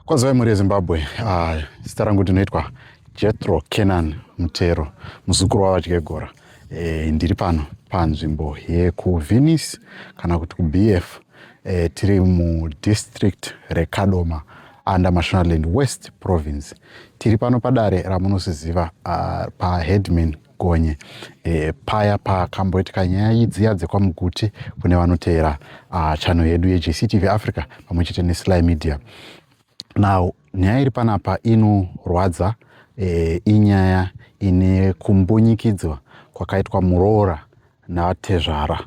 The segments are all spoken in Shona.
Kwazivai mhuri yezimbabwe uh, zita rangu ndinoitwa jethro kenan mutero muzukuru wavadyegora e, eh, ndiri pano panzvimbo yekuvenice kana kuti kubf e, eh, tiri mudistrict rekadoma under mashonaland west province tiri pano padare ramunosiziva uh, ah, paheadman Gonye e, paya pakamboitika nyaya idziya dzekwaMuguti kune vanoteera uh, chano yedu yeJCTV Africa pamwe chete neSly Media. Now nyaya iri panapa inorwadza e, inyaya ine kumbunyikidzwa kwakaitwa muroora natezvara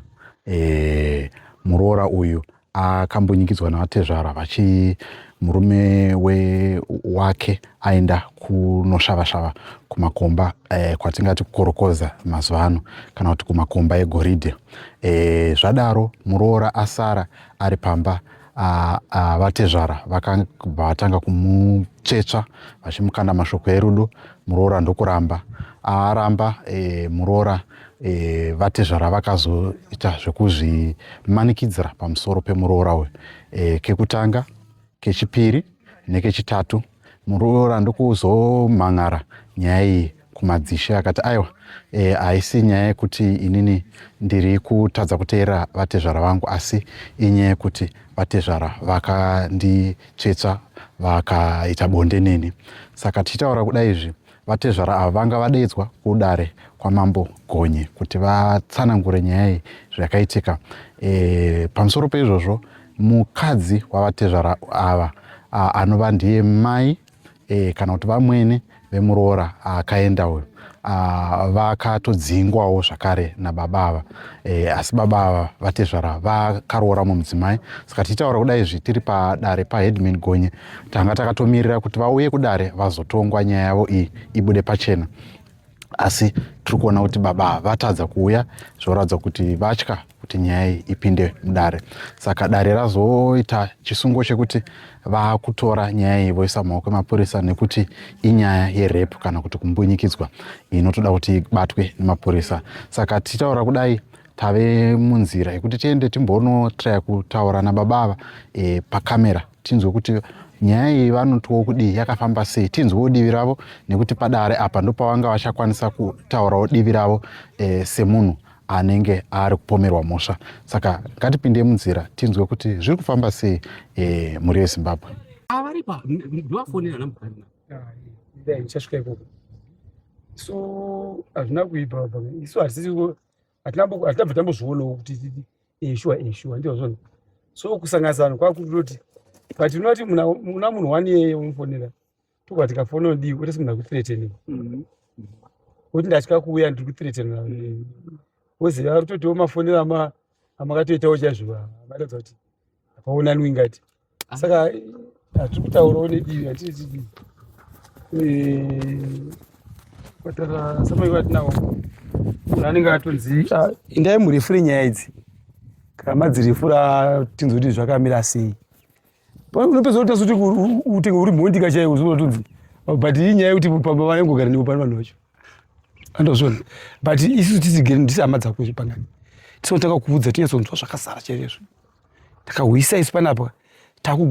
e, muroora uyu akambunyikidzwa navatezvara vachi murume we wake aenda kunoshavashava kumakomba eh, kwatingati kukorokoza mazuva ano kana kuti kumakomba egoridhe eh, zvadaro muroora asara ari pamba ah, ah, vatezvara vakabva vatanga kumutsvetsva vachimukanda mashoko erudo muroora ndokuramba aramba eh, muroora ah, e, vatezvara vakazoita zvekuzvimanikidzira pamusoro pemuroora uyu e, kekutanga kechipiri nekechitatu muroora ndokuzomhan'ara nyaya iyi kumadzishe akati aiwa e, haisi e, nyaya yekuti inini ndiri kutadza kuteerera vatezvara vangu asi inyaya yekuti vatezvara vakanditsvetsva vakaita bonde neni saka tichitaura kuda izvi Vatezvara ava vanga vadaidzwa kudare kwaMambo Gonye kuti vatsanangure nyaya iyi zvakaitika. E, pamusoro peizvozvo mukadzi wavatezvara ava anova ndiye mai e, kana kuti vamwene vemuroora akaenda uyu vakatodzingwawo zvakare nababa ava e, asi baba ava vatezvara vakaroora mumudzimai saka tichitaura kudai izvi tiri padare paheadman gonye tanga takatomirira kuti vauye kudare vazotongwa nyaya yavo iyi ibude pachena asi tiri kuona kuti baba vatadza kuuya zvoratidza kuti vatya kuti nyaya iyi ipinde mudare saka dare razoita chisungo chekuti vakutora nyaya iyi voisa mumaoko emapurisa nekuti inyaya yerepu kana kuti kumbunyikidzwa inotoda kuti ibatwe nemapurisa saka tichitaura kudai tave munzira yekuti tiende timbonotraya kutaura nababa ava e, eh, pakamera tinzwe kuti nyaya iyi vanotwo kudii yakafamba sei tinzwewo divi ravo nekuti padare apa ndopavanga vachakwanisa kutaurawo divi ravo e, semunhu anenge ari kupomerwa mhosva saka ngatipinde munzira tinzwe kuti zviri kufamba sei e, mhuri yezimbabwe avaripa ndivafonera namukana ndichasvika ikoko so hazvina kuipa isu hatisi hatinabva tambozvionawo kuti eshuwa eh, eshuwa eh, ndizvozvo so kusanganisa vanhu kwakutoti but unoti una munhu wani yeye unofonera tobva tikafona odii kuti simunhu akuthreateni mhm. kuti ndatya kuuya ndiri kuthreateni mhm. woziva ari kutotiwo mafonera amakatoitawo chaizvo varatidza kuti hapaonani wingati saka hatiri kutaurawo nedivi hatiri tidivi kwatara samai vatinawo munhu anenge atonzi ah, indai murefure nyaya idzi kana madzirefura tinzwa kuti zvakamira sei unopedza kuti tasuti utenge uri mhondika chaiyo uzotonzi but iyi nyaya yekuti pamba vanengogara nepo pano vanhu vacho andozvona but isu tisigere ndisi hama dzako izvi pangani tisinotanga kuudza tinyatsonzwa zvakasara chaizvo takahwisa isu panapa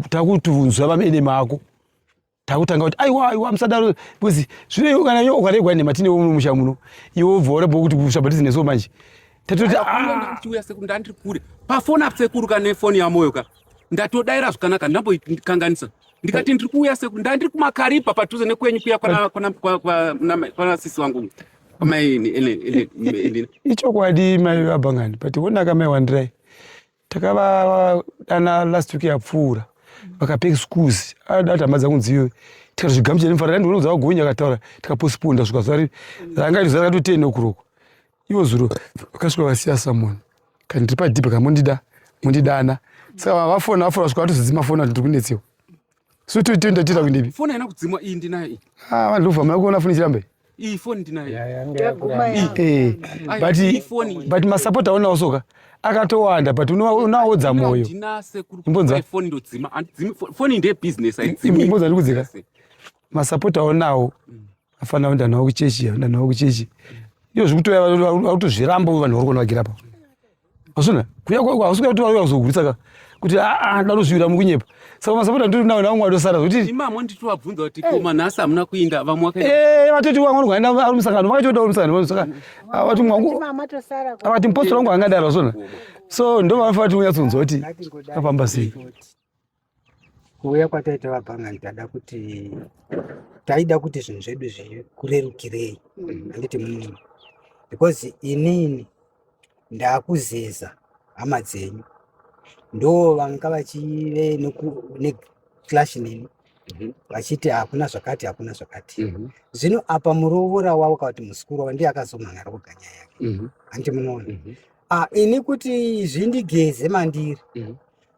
takutunzwa vamene mako takutanga kuti aiwa aiwa musadaro because zvino kana yo ukaregwa nhema tine umwe musha muno iwe ubva ora bokuti kushabhatizi neso manje tatoti ah! tiuya sekuru ndandiri kure pafoni apo sekuru ka nefoni yamoyo ka ndatodaira zvakanaka ndamboikanganisa ndikati ndiri kuuya sekuru ndandiri kumakaripa padhuze nekwenyu kuya kwana sisi wangu ichokwadi mai vabhangani but wonaka mai wandirai takavadana last week yapfuura vakape excuse ada kuti hama dzangu dzive tikati zvigamuchira nemufara randi unodza wagonya akataura tikaposiponda svika zuva ranga zuva rakati ten o'clock ivo zuro vakasvika vasiya someone kana tiri padhipa kamondida mondidana saka vafona vafona svika vatozidzi mafona kuti tiri kunetsewa so to tenda tita kundipi phone ina kudzimwa iyi ndinayo iyi ah vanhu lova mako ona phone chirambe iyi phone ndinayo eh but but ma support aona osoka akatowanda but unaodza moyo imbonza phone ndodzima andidzimi phone inde business aidzimi imbonza ndikudzika ma support aonawo mm. afana unda nawo kuchechi unda nawo kuchechi iyo zvikutoya vakutozviramba vanhu vari kuona vagira pao Asuna, kuya kwa kwa usika tuwa uyazo kuritsa ka. Kuti a a ndalo zviwira mukunyepa. Saka masapota ndiri nawo nawo mwado sara kuti. Ima mo nditi wabvunza kuti eh. koma nasa amuna kuinda vamwe wakaenda. Eh, vatoti wangu wangu aenda ari musangano, vakatoda uri musangano vanhu saka. Avati mwangu. Avati mpostora wangu angadaro asuna. So ndo vanofa kuti unyatsunzwa kuti. Kapamba sei. kuuya kwataita vabhangai tada kuti taida kuti zvinhu zvedu zvikurerukirei mm. handiti munini because inini ndakuzeza hama dzenyu ndo vanga vachive neclash nini mhm. vachiti hakuna zvakati hakuna zvakati mhm. zvino apa murovora wavo kavati musikuru wavo ndiye akazomhan'ara kuga nyaya yake mhm. handiti munoona ah, ini kuti zvindigeze mandiri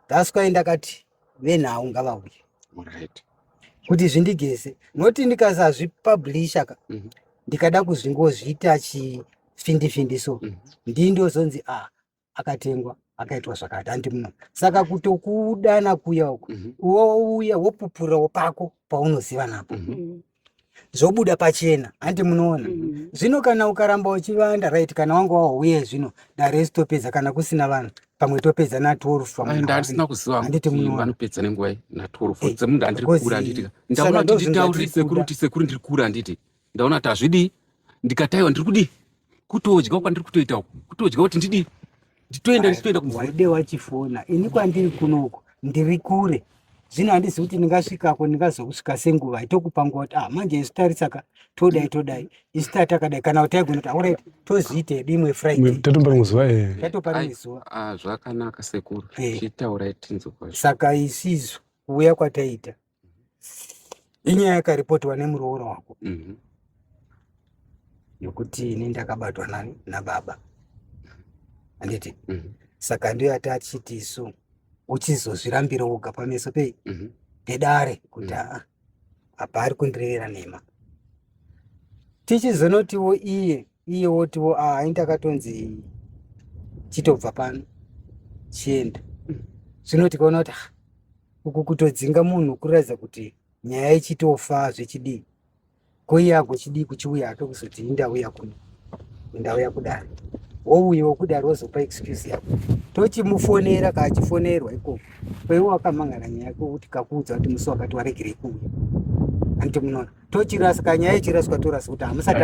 That's why ndakati venhau ngavauye. Alright. Kuti zvindigeze. Noti ndikasazvipublisha ka. Mm -hmm. Ndikada kuzvingozviita chi findi findi so. Mm -hmm. Ndindozonzi ah akatengwa akaitwa zvakati handi muno saka kutokudana kuya uko mm -hmm. wouya wopupurirawo pako paunoziva napo mm -hmm. zvobuda pachena hanti munoona mm-hmm. zvino kana ukaramba uchivanda right kana wanga wauye zvino dare isitopedza kana kusina vanhu pamwe topedza na 12andisina kuzivahanditi munoanopedza nenguva na 12 eh, dzemunhu andiri kura anditi ndaona kuti nditaurire sekuru kuti sekuru ndiri kura anditi ndaona kuti hazvidii ndikataiwa ndiri kudii kutodya kwandiri kutoita uku kutodya kuti ndidii nditoenda ndichitoenda kumwaide wachifona ini kwandiri kunoko ndiri kure zvino handizi kuti ndingasvikako ndingazokusvika senguva itokupa nguva kuti ah manje isu tarisaka todai todai isu tatakadai kana kuti taigona kuti aurit tozviite dimwe fridaytatopara muzuva tatopara muzuva eh. ah, zvakanaka sekuru eh. chitaurai tinzwa saka isizo kuuya kwataita inyaya yakaripotwa nemuroora wako mhm. yokuti ini ndakabatwa nani nababa handiti mhm. saka ndiyo yati achiti isu uchizozvirambira woga pameso pei mhm. pedare kuti aa apa ari kundirevera nhema tichizonotiwo iye iye wotiwo aa ini takatonzi chitobva pano chienda zvino tikaona kuti uku kutodzinga munhu kuratidza kuti nyaya ichitofa zvechidii ko iye agochidii kuchiuya ake kuzoti indauya kuno ndauya kudaro wouyiwa kudaro wozopa excuse yako tochimufonera kaachifonerwa ikoko kweiwe wakamangana nyaya yako kuti kakuudza kuti musi wakati waregerei kuuya anti munoona tochirasa kanyaya ichiraswa torasa kuti hamusati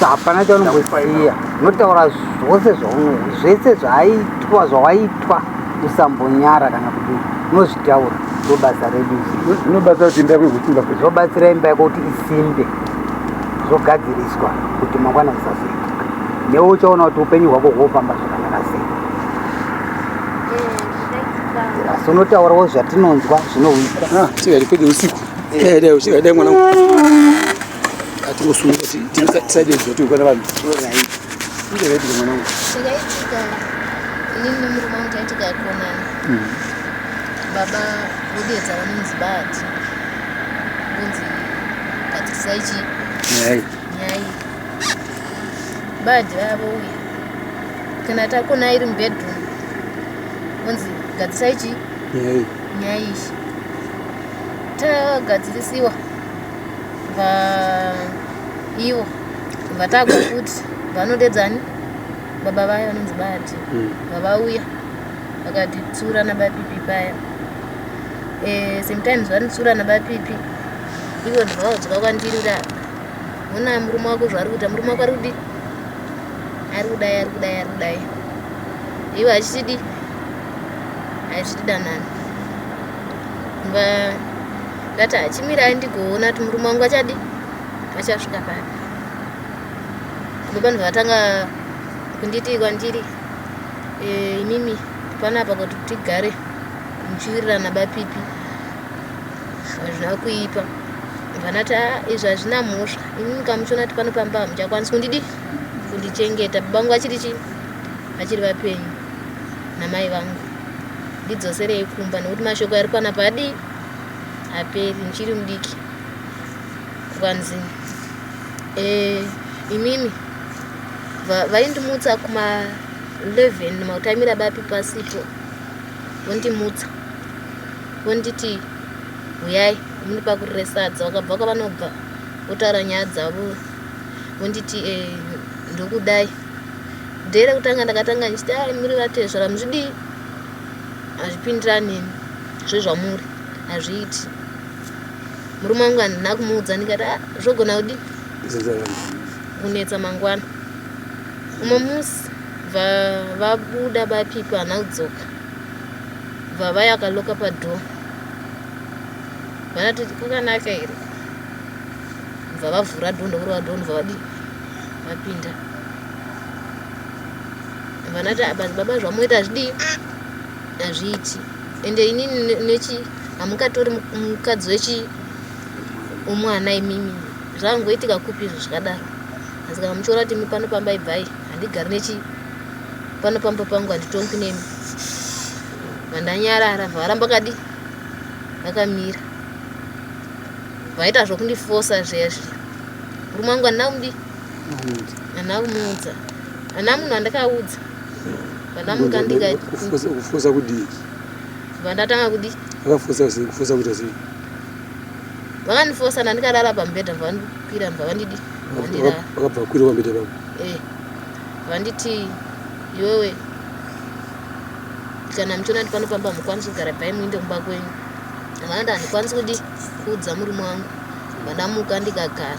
hapana chaunongosiya unotaura zvose zvese zvaaitwa zvawaitwa usambonyara kana kuti unozvitaura ndobasa redu zvinobasa kuti imba yekusimba zvobatsira imba yako kuti isimbe zvogadziriswa kuti mangwana zisazviitika newe uchaona kuti upenyu hwako hwofamba zvakanaka sei asi unotaurawo zvatinonzwa zvinohwisa ah, tiari kwede usiku Dai usika dai mwana atingosunga tisaide zvoto kwana vanhu. Kunge ready mwana wangu. Zvakaitika inini nemurume wangu taitika yakonana. Mm. Baba vodedza vanonzi bati. Kunzi bati saichi. Nyai. Nyai. Badi vavo uya. Kana takona iri mubedroom. Kunzi gadzisaichi. Nyai. Nyai. tagadzirisiwa vaivo vatagwa kuti vanodedzani baba vaya vanonzi bati hmm. vavauya vakatitsura nabapipi paya eh, sometimes vanitsura nabapipi ivo ndivaudzwa kwandiri kuti hona murume wako zvaari kuita murume wako ari kudii ari kudai ari kudai ari kudai ivo achitidi achitidanana ndati achimirai ndigoona kuti murume wangu achadi achasvika pari ndopanhu vatanga kunditi kwandiri eh, imimi pana apa kuti tigare muchiwirirana bapipi hazvina kuipa vanati ah, izvi hazvina mhosva imimi kamuchiona kuti pano pamba hamuchakwanisi kundidi kundichengeta babangu vachiri chii vachiri vapenyu namai vangu ndidzoserei kumba nekuti mashoko ari kwana padi haperi ndichiri mudiki kwanzi eh, imimi vaindimutsa kuma 11 makutaimira bapi pasipo vondimutsa vonditi huyai muni pakuresadza vakabva kwavanobva votaura nyaya dzavo vonditi eh, ndokudai dere kutanga ndakatanga ndichiti ai muri vatezvara muzvidii hazvipindirani neni zvezvamuri hazviiti murume wangu handina kumuudza ndikati ah, zvogona kudi kunetsa mangwana umwe musi vabuda bapipa hana kudzoka bvava yakaloka padhoo vanati kwakanaka here bva vavhura dhoo ndokurova dhoo ndobva vadii vapinda vanati madzibaba zvamoita hazvidii hazviiti ende ini nechi hamungatori mukadzi wechi umwana imimi zvakungoitika kupi izvo zvakadaro asi kana muchiona kuti imi pano pamba ibvai handigari nechi pano pamba pangu handitongi nemi vandanyarara varamba kadi vakamira vaita zvokundifosa zviya zviya murume wangu handina kumdii ana kumuudza ana munhu andikaudza vanamuka ndikakufuza kudii vandatanga kudii vakafuza kufuza kuita sei vakandifosa ndandikarara pamubhedha vavandikwira vavandidi vakabva kwira pamubhedha pavo eh, vanditi iwewe kana muchiona kuti panofamba mukwanisi kugara pai muinde kumba kwenyu vanati handikwanisi kudi kuudza murume wangu vandamuka ndikagara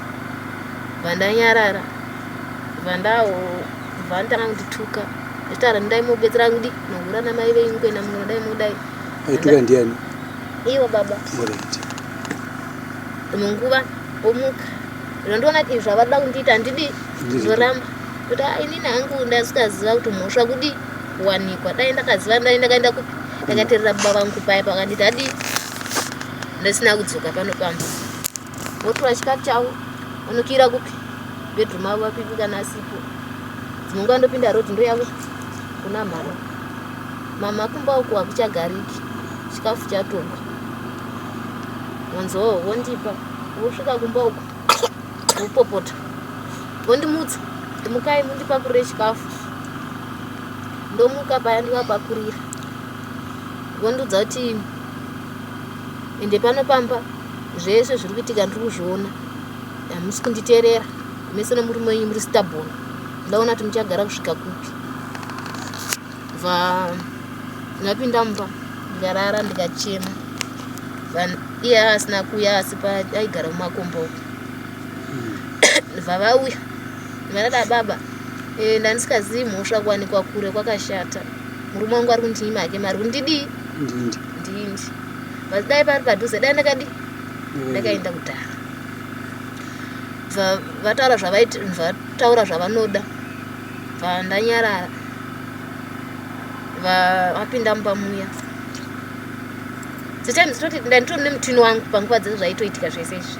bva ndanyarara bva ndabva nditanga kundituka zvitaura ndai mubetsera kudi nohura namai venyu kuenda mumwe dai mudai aituka ndiani ivo baba munguva omuka ndondiona kuti izvi zvavada kundiita handidi ndoramba kuti ah, inini hangu ndasikaziva kuti mhosva kudi kuwanikwa dai ndakaziva ndai ndakaenda kupi ndakaterera baba vangu paya pakanditi adii ndasina kudzoka pano pamba Wotora chikafu chavo unokira kupi bedroom avo vapipi kana asipo dzimwe nguva ndopinda road ndoyavo kuna mhama mama kumba uku hakuchagariki chikafu chatongwa wanzoo wondipa wosvika kumba uku wopopota wondimutsa ndimukai mundipakurire chikafu ndomuka paya ndivapakurira vondiudza kuti ende pano pamba zvese zviri kuitika ndiri kuzviona hamusi kunditerera mese nomurume wenyu muri stabon ndaona kuti muchagara kusvika kupi bva ndapinda mumba ndikarara ndikachema iye asina kuuya asi paaigara mumakomba uku bva hmm. vauya vanada baba eh, ndandisikazii mhosva kuwanikwa kure kwakashata murume wangu ari kundinyi make mari kundidii ndindi but dai pari padhuze dai ndakadi mm. ndakaenda kudhara vataura zvavataura zvavanoda vandanyarara vapinda mumba muya setimes toti ndanditoni nemutini wangu panguva dzese zvaitoitika zvese izvi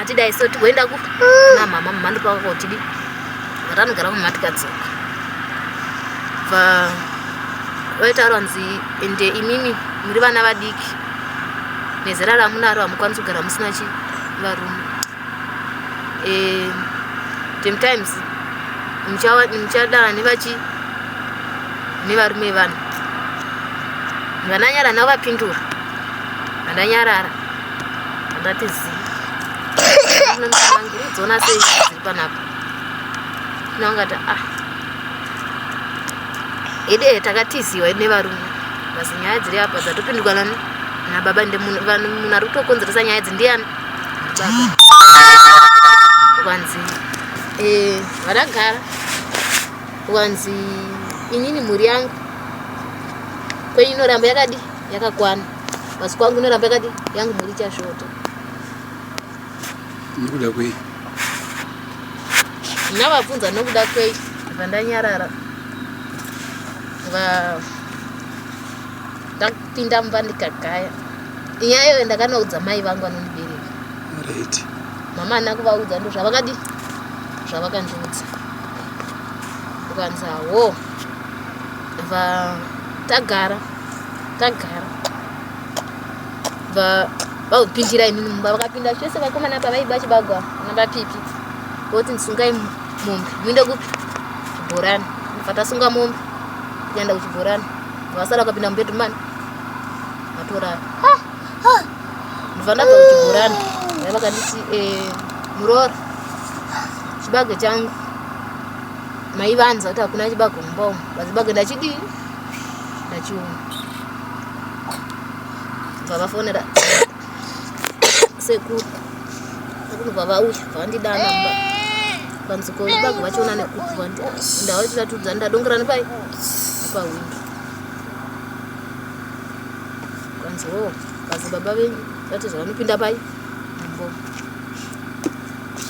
Atidai so tigoenda ku na mama mama ndo paka kotidi. Vatanogara mama tikadzoka. Va vaitaura hanzi ende imimi muri vana vadiki nezera ramunaro hamukwanisi kugara musina chi varume. Eh sometimes muchawa muchadana nevachi nevarume vanhu. Vananyara navo vapindura. Vananyarara. ndati zi dzona sei dziri panapa naungati ah ede takatiziwa nevarume basi nyaya dziri apa dzatopindurwa nani nababa ndimunhu ari kutokonzeresa nyaya idzi ndiyani kwanzi eh, vadagara kwanzi inini mhuri yangu kwenyu inoramba yakadi yakakwana masiku angu inoramba yakadi yangu mhuri ichasvota nokuda kwei ndinavabvunza nokuda kwei vandanyarara va ndakupinda mumba ndikagaya inyaya iyoyo ndakanaudza mai vangu vanondibereka right mama ana kuvaudza ndo zvavakadi zvavakandiudza ukanzi hawo va tagara tagara vakupindira inini mumba vakapinda chose vakomana apa vaiba chibagwa nabapipi voti ndisungai mombe muinde kupi chibhorani vatasunga mombe kuenda kuchibhorani vasara vakapinda mubedman vatorara ndivandabva kuchibhorani vai vakanditi eh, muroora chibage changu maivanza kuti hakuna chibage mumba umu vazibage ndachidii ndachiona vavafonera sekuru akunobva vauya vavandidana mba panziko ibago vachiona nekubva ndavachiratidza ndadongera nepai pawindo kanzi wo oh, kazi baba venyu vati zvavanopinda pai mbo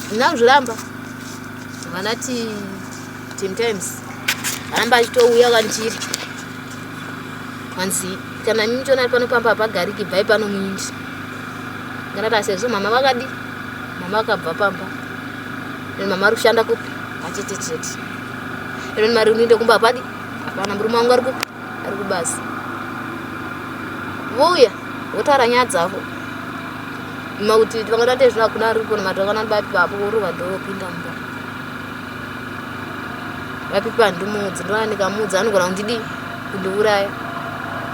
ndinakuzviramba vanati sometimes aramba achitouya kwandiri hanzi kana mimi chionari pano pamba hapagariki bvai pano muindi nganata sezvo mama vakadi mama vakabva pamba ino mama ari kushanda kupi achete chete ino mari unoinde kumba hapadi hapana murume wangu ari kupi ari kubasa vouya votaura nyaya dzavo makuti vangatoite zvino hakuna ari kuona mati vakana bapi vapo vorovadho vopinda mumba vapipi handimudzi ndovana ndikamudzi anogona kundidii kundiuraya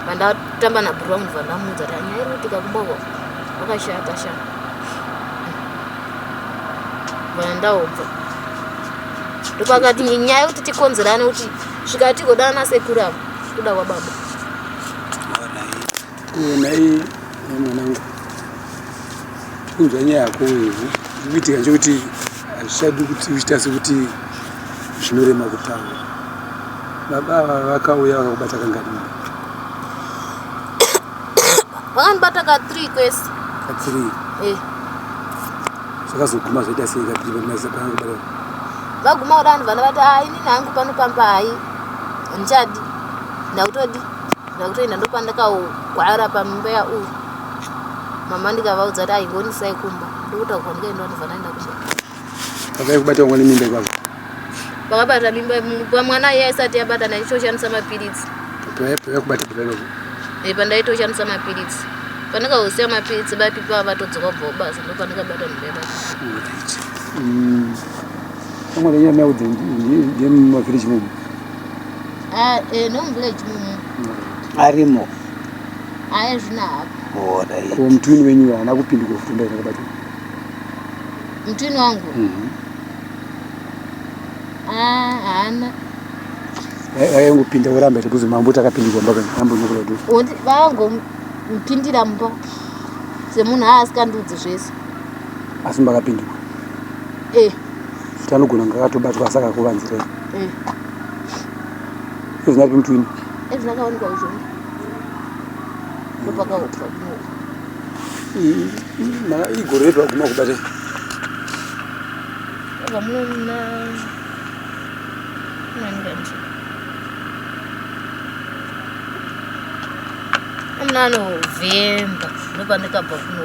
vandatamba nabhuru vangu ndova ndamudza ta nyaya iri kuitika kumboko vakashata sha vana ndaobva ndopakati nyaya yekuti tikonzerane kuti svikatigodana nasekuru avo kuda kwababa Nhai mwanangu, kunzwa nyaya yako ivhu kuitika nchokuti hazvichadi kuti uchita sekuti zvinorema kutaura. Baba ava vakauya vakakubata kangadini? Vakandibata ka three kwese. Ka three? Eh. Zvakazoguma zvaita sei ka three pamazisa panakubata? Vaguma kuda vanhu vana vati, ah, inini hangu pano pamba hai, handichadi, ndakutodi. ndakutoenda ndopandakagwara pambeya uyu mama ndikavaudza kuti aingonisai kumba ndokutaurwa ndikaenda ndibva ndaenda kumba vakaikubata wangani mimba ipapa vakabata mimba pamwana iye aisati yabata ndaitoshandisa mapiritsi yakubata paipapo e pandaitoshandisa mapiritsi pandikausiya mapiritsi bapipa vatodzoka kubva kubasa ndopandikabata mimba ipapa mm. vamwe vanyaya maudza ndiyemumavhiriji mumu Ah, eh, no muvillage mumu arimo aya zvina hapo Alright. ko mutwini wenyu uyo haana kupindika kufunda here bati mutwini wangu Mhm. Ah, haana Vai- vaingopinda voramba here kuzi mambo takapindikwa mbaka mambo nokula kuti Woti- vangomupindira mumba semunhu aasikandiudzi zvese asi makapindikwa eh Futi anogona kunge akatobatwa asi akakuvanzirei. Eh. Ezina ripi mutwini? Ezina akawanikwa kuzvona. Ndopaka upa kuno. Mara igore redu aguma kubate. Ava muna nani kanje. Amuna anovemba ndopandikabva kuno.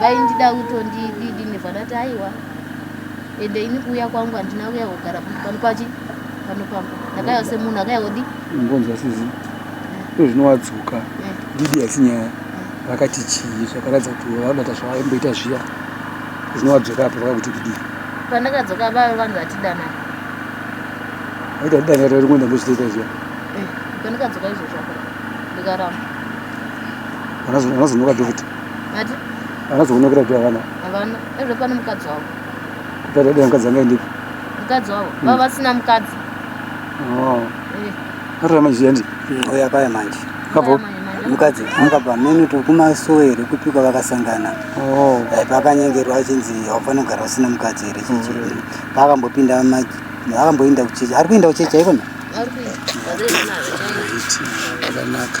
vaindida kutondididi nevadati aiwa ende ini kuuya kwangu handina kuya kugara pano pachi pano pambo ndakaiwa semunhu akaiodi ngonzwa sizi ndo zvinowadzoka eh. didi haisi nyaya vakati chii zvakaratidza kuti vaudata zvavaimboita zviya zvinowadzoka apo vakakuti kudii pandakadzoka vave vanhu vatidana aita didana rari kuenda ndozvitoita zviya eh, pandakadzoka izvozvo ndikaramba vanozonoka doviti vanozoonekera kuti havana havana ezve pane mukadzi wavo kutadaa mukadzi anga endipi mukadzi wavo hmm. vava vasina mukadzi oh. eh. atora manje yandi oya paya manje kabo mukadzi anga pamene to kumasowe here kupika vakasangana oh. eh, pakanyengerwa achinzi haufani kugara usina mukadzi here chichi hmm. paakambopinda akamboinda kuchechi ari kuinda kuchechi aikona akanaka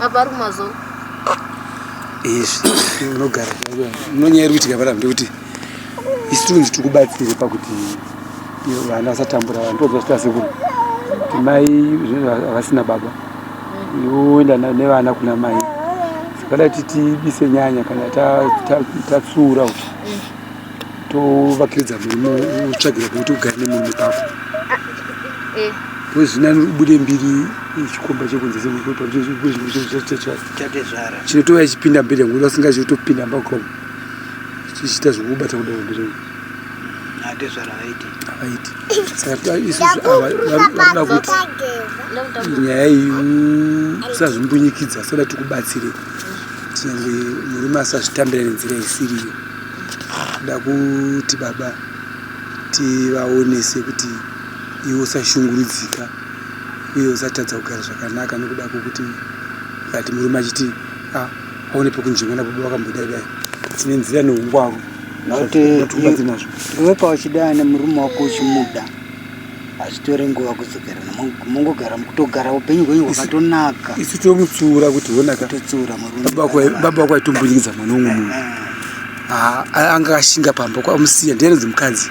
apa ari kumazono izvi unogara unonyaya iri kuitika panapo ndekuti isu tunzi tiri kubatsire pakuti vana vasatambura vanhu tobva zvita sekuru kuti mai havasina baba yoenda nevana kuna mai sakada kuti tibise nyanya kana tatsuura kuti tovakiridza murimo utsvagira pekuti ugare nemurume pako eh. pozinani ubude mbiri chikomba chekunzechinotova ichipinda mberi yangu vasinga chitopinda mbakom chichiita zvekubata kuda mberi havaiti saka isusu vanoda kuti nyaya iyi usazvimbunyikidza soda tikubatsire tinyange murume asazvitambira nenzira isiriyo Tinoda kuti baba tivaonese kuti iwe usashungurudzika uye usatadza kugara zvakanaka nokuda kwokuti ukati murume achiti ah, aone pekunzvenga nababa vakambodai dai tine nzira neungwaru zvatinazvo iwe pauchidana murume wako uchimuda hazvitore nguva kudzokerana mongogara mukutogara upenyu hwenyu hwakatonaka isu tomutsiura kuti honakatotsiura baba kwaitombundikidza mwana umwe munhu ah. ah, anga akashinga pamba kwamusiya ndianonzi mukadzi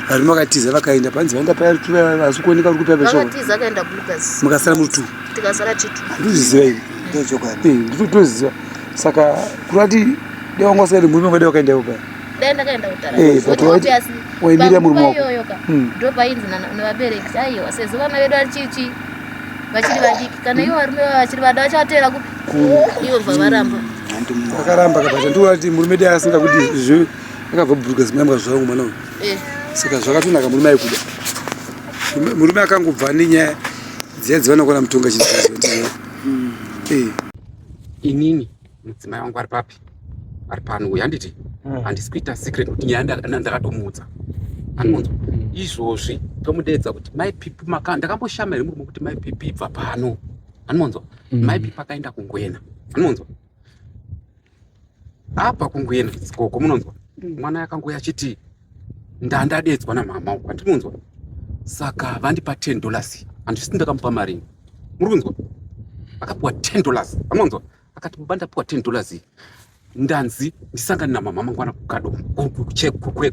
varume vakatiza vakaenda panzi vaenda pavasikuoneka uri kupapemukasara mutu ndozviziva ivi eh, nditoziva saka kurati dewanga usaende murume ngade wakaenda ivo paya dai ndakaenda kutarawaimira murume wakoyoyoka hmm. ndo painzi nevabereki aiwa sezvo vana vedu vachichi vachiri vadiki kana ivo varume vavo vachiri vada vachavatevera kupi ivo bva varamba vakaramba kabata ndivo vati murume dai asinga kuti zve akabva buruka zimayambwa zvangu mwana uyu eh. saka zvakatonaka murume aikuda murume akangobva nenyaya dziya dzivanokona mutonga chii hmm. eh. inini mudzimai wangu ari papi ari pano uyu handiti hmm. handisi kuita secret kuti nyaya ndakatomuudza anonzwa hmm. izvozvi tomudeedza kuti mai pipi maka ndakamboshama here murume kuti mai pipi ibva pano anonzwa hmm. mai pipi akaenda kungwena anonzwa apa kungwena sikoko munonzwa mwana yakangouya achiti ndandadedzwa namama uku andimunzwa saka vandipa ten dollars handisiti ndakamupa marini muri kunzwa akapiwa ten dollars amunzwa akati baba ndapiwa 10 dollars iyi ndanzi ndisangane namama mangwana kukado kuchekwekwe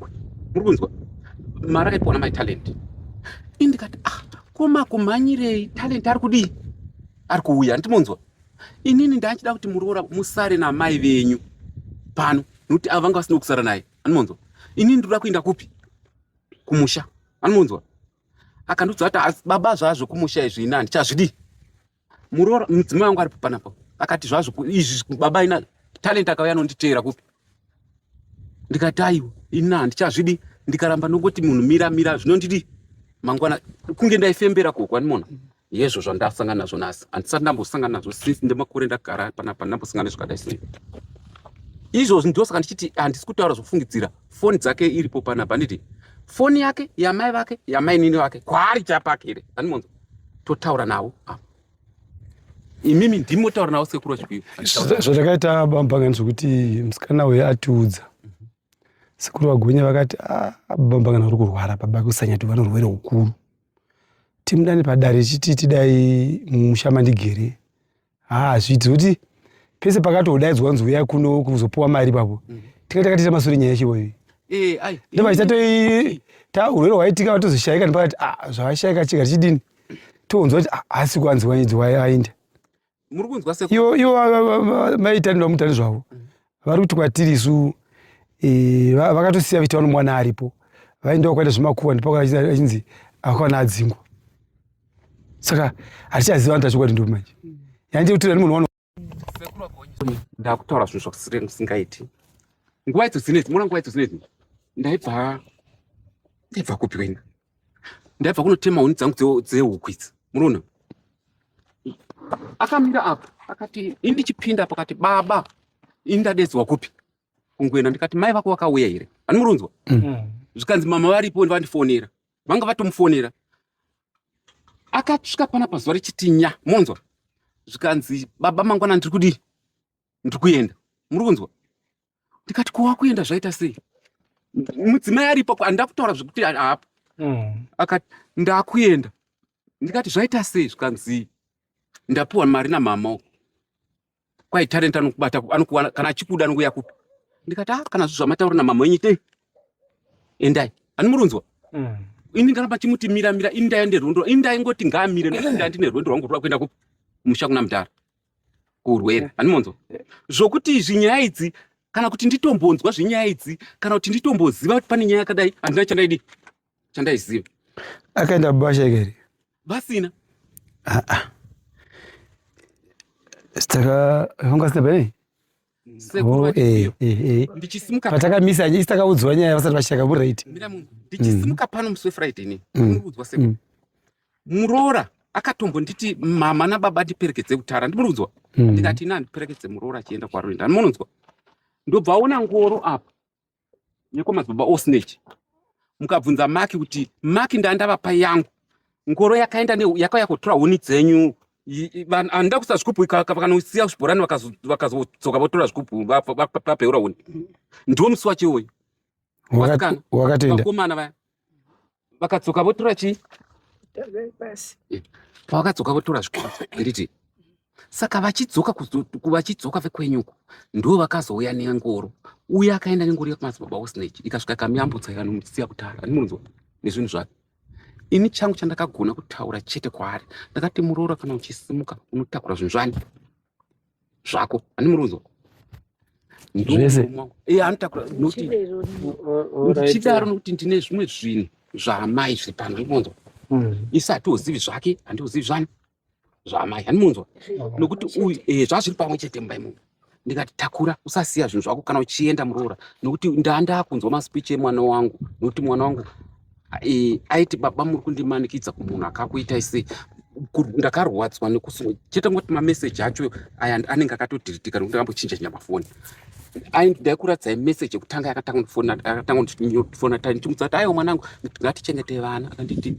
muri kunzwa mari akaipiwa namai talent indikati ah koma kumhanyirei talent ari kudii ari kuuya andimonzwa inini ndachida kuti muroora musare namai venyu pano nokuti ava vanga vasina kusara naye anomonzwa inini ndinoda kuenda kupi kumusha anomonzwa akandiudza kuti baba zvazvo kumusha izvi ini handichazvidii muroora mudzimai wangu aripo panapa akati zvazvo izvi baba ina talent akauya anonditeera kupi ndikati aiwa ina handichazvidi ndikaramba ndongoti munhu mira mira zvinondidi mangwana kunge ndaifembera ko kwanimona yezvo zvandasangana nazvo nhasi handisati ndambosangana nazvo since ndemakore ndagara panapa ndambosangana nezvakadai sei izvozvi ndosaka ndichiti handisi kutaura zvofungidzira foni dzake iripo panapa handiti foni yake yamai vake yamainini vake kwaari chapakere andimonza totaura navo apa imimi ndimi motaura navo sekuru chikuyu zvatakaita bambangani zvekuti musikana uye atiudza sekuru vagonye vakati ah, bambangani vari kurwara baba kusanyati vanorwere ukuru timudane padare chiti tidai musha mandigere haa zviti kuti pese pakatodaidzwa kunzi uya kuno kuzopuwa mari ipapo mm. tinga takatiita masure nyaya yachivo iyi eh, ndo vachitatoita ta urwere hwaitika vatozoshaika nepakati ah, zvavashaika chika tichidini tonzwa kuti ah, asi kuanziwa nyidzi wayainda ivo maitanira mutani zvavo mm. vari kuti kwatiri isu e, vakatosiya vachiti vanomwana aripo vaenda kwakaita zvemakuva ndipo achinzi akwana adzingwa saka hatichaziva vanhu tachokwadi ndopi manje yandie kuti rani munhu ndakutaura zvinhu zvasingaiti nguva idzo dzinedzi mona nguva idzo dzinedzi ndaibva ndaibva kupi wena ndaibva kunotema huni dzangu dzehuku idzi munoona akamira apa akati ini ndichipinda pakati baba ini ndadedzwa kupi kungoenda ndikati mai vako vakauya here ani murunzwa mm. mm. zvikanzi mama varipo vandifonera vanga vatomufonera akasvika pana pazuva rechitinya monzwa zvikanzi baba mangwana ndiri kudii ndiri kuenda muri kunzwa ndikati ko wakuenda zvaita sei mudzimai aripo andida kutaura zvekuti haapo mm. akati ndakuenda ndikati zvaita sei zvikanzi ndapiwa mari namama uko kwai talent anokubata anokuwana kana achikuda anokuya kupi ndikati a ah, kana zvi zvamataura namama wenyu itei endai animurunzwa mm. ini ndaramba chimuti mira mira ini ndaende rwendo ini ndaingoti ngaamire nda ndine rwendo rwangu rwa kuenda kupi musha kuna mudhara urwere handimonzwa zvokuti izvi nyaya idzi kana kuti nditombonzwa zvenyaya idzi kana kuti nditomboziva kuti pane nyaya yakadai handina chandaidi chandaiziva akaenda bubasha ikeri vasina saka vanga sina pane Sekuru Oh, eh, vachipiwa. eh, eh. Ndichisimuka pano. Patakamisa nyaya takaudzwa nyaya vasati vachitaka muri right. Mira mungu. Ndichisimuka pano musi weFriday ini. Mm. Ndinokuudzwa sekuru. Mm. Muroora akatombonditi mama nababa ndiperekedze kutara. Ndinokuudzwa. Mm. ndikati ina ndiperekedze muroora achienda kwaroenda munonzwa ndobva aona ngoro apa nekwamadzibaba osnech mukabvunza maki kuti maki ndandavapa yangu ngoro yakaenda yakauya kutora huni dzenyu andida kusa zvikupu vakanosiya zvibhorani vakazodzoka votora zvikupu vapeura huni ndiwo musi wacho iwoyo vasikana vakomana vaya vakadzoka votora chii pavakadzoka votora zvikwazviriti saka vachidzoka vachidzoka vekwenyuko ndo vakazouya nengoro uye akaenda nengoro yakumadzibaba osnage ikasvika kamiyambutsa ikanomusiya kutara andimunzwa nezvinhu zvake ini changu chandakagona kutaura chete kwaari ndakati muroora kana uchisimuka unotakura zvinhu zvani zvako ani murudzo zvese eh, anotakura noti ndichidaro nokuti ndine zvimwe zvinhu zvaamai zviri pano andimunzwa hmm. isi hatiuzivi zvake handiuzivi zvani zvaamai andimunzwa nokuti uyu eh, zvazviri pamwe chete mumba imomo ndikati takura usasiya zvinhu zvako kana uchienda muroora nokuti ndaa ndakunzwa maspeech emwana wangu nokuti mwana wangu Eh, aiti baba muri kundimanikidza kumunhu akakuitai sei ndakarwadzwa nekusi chete ngoti mameseji acho aya anenge akatodhiritika nekuti akambochinja chinya mafoni ndaikuradziai meseji yekutanga yakatanga kundifona tai ndichimudza kuti aiwa mwanangu ngatichengete vana akanditi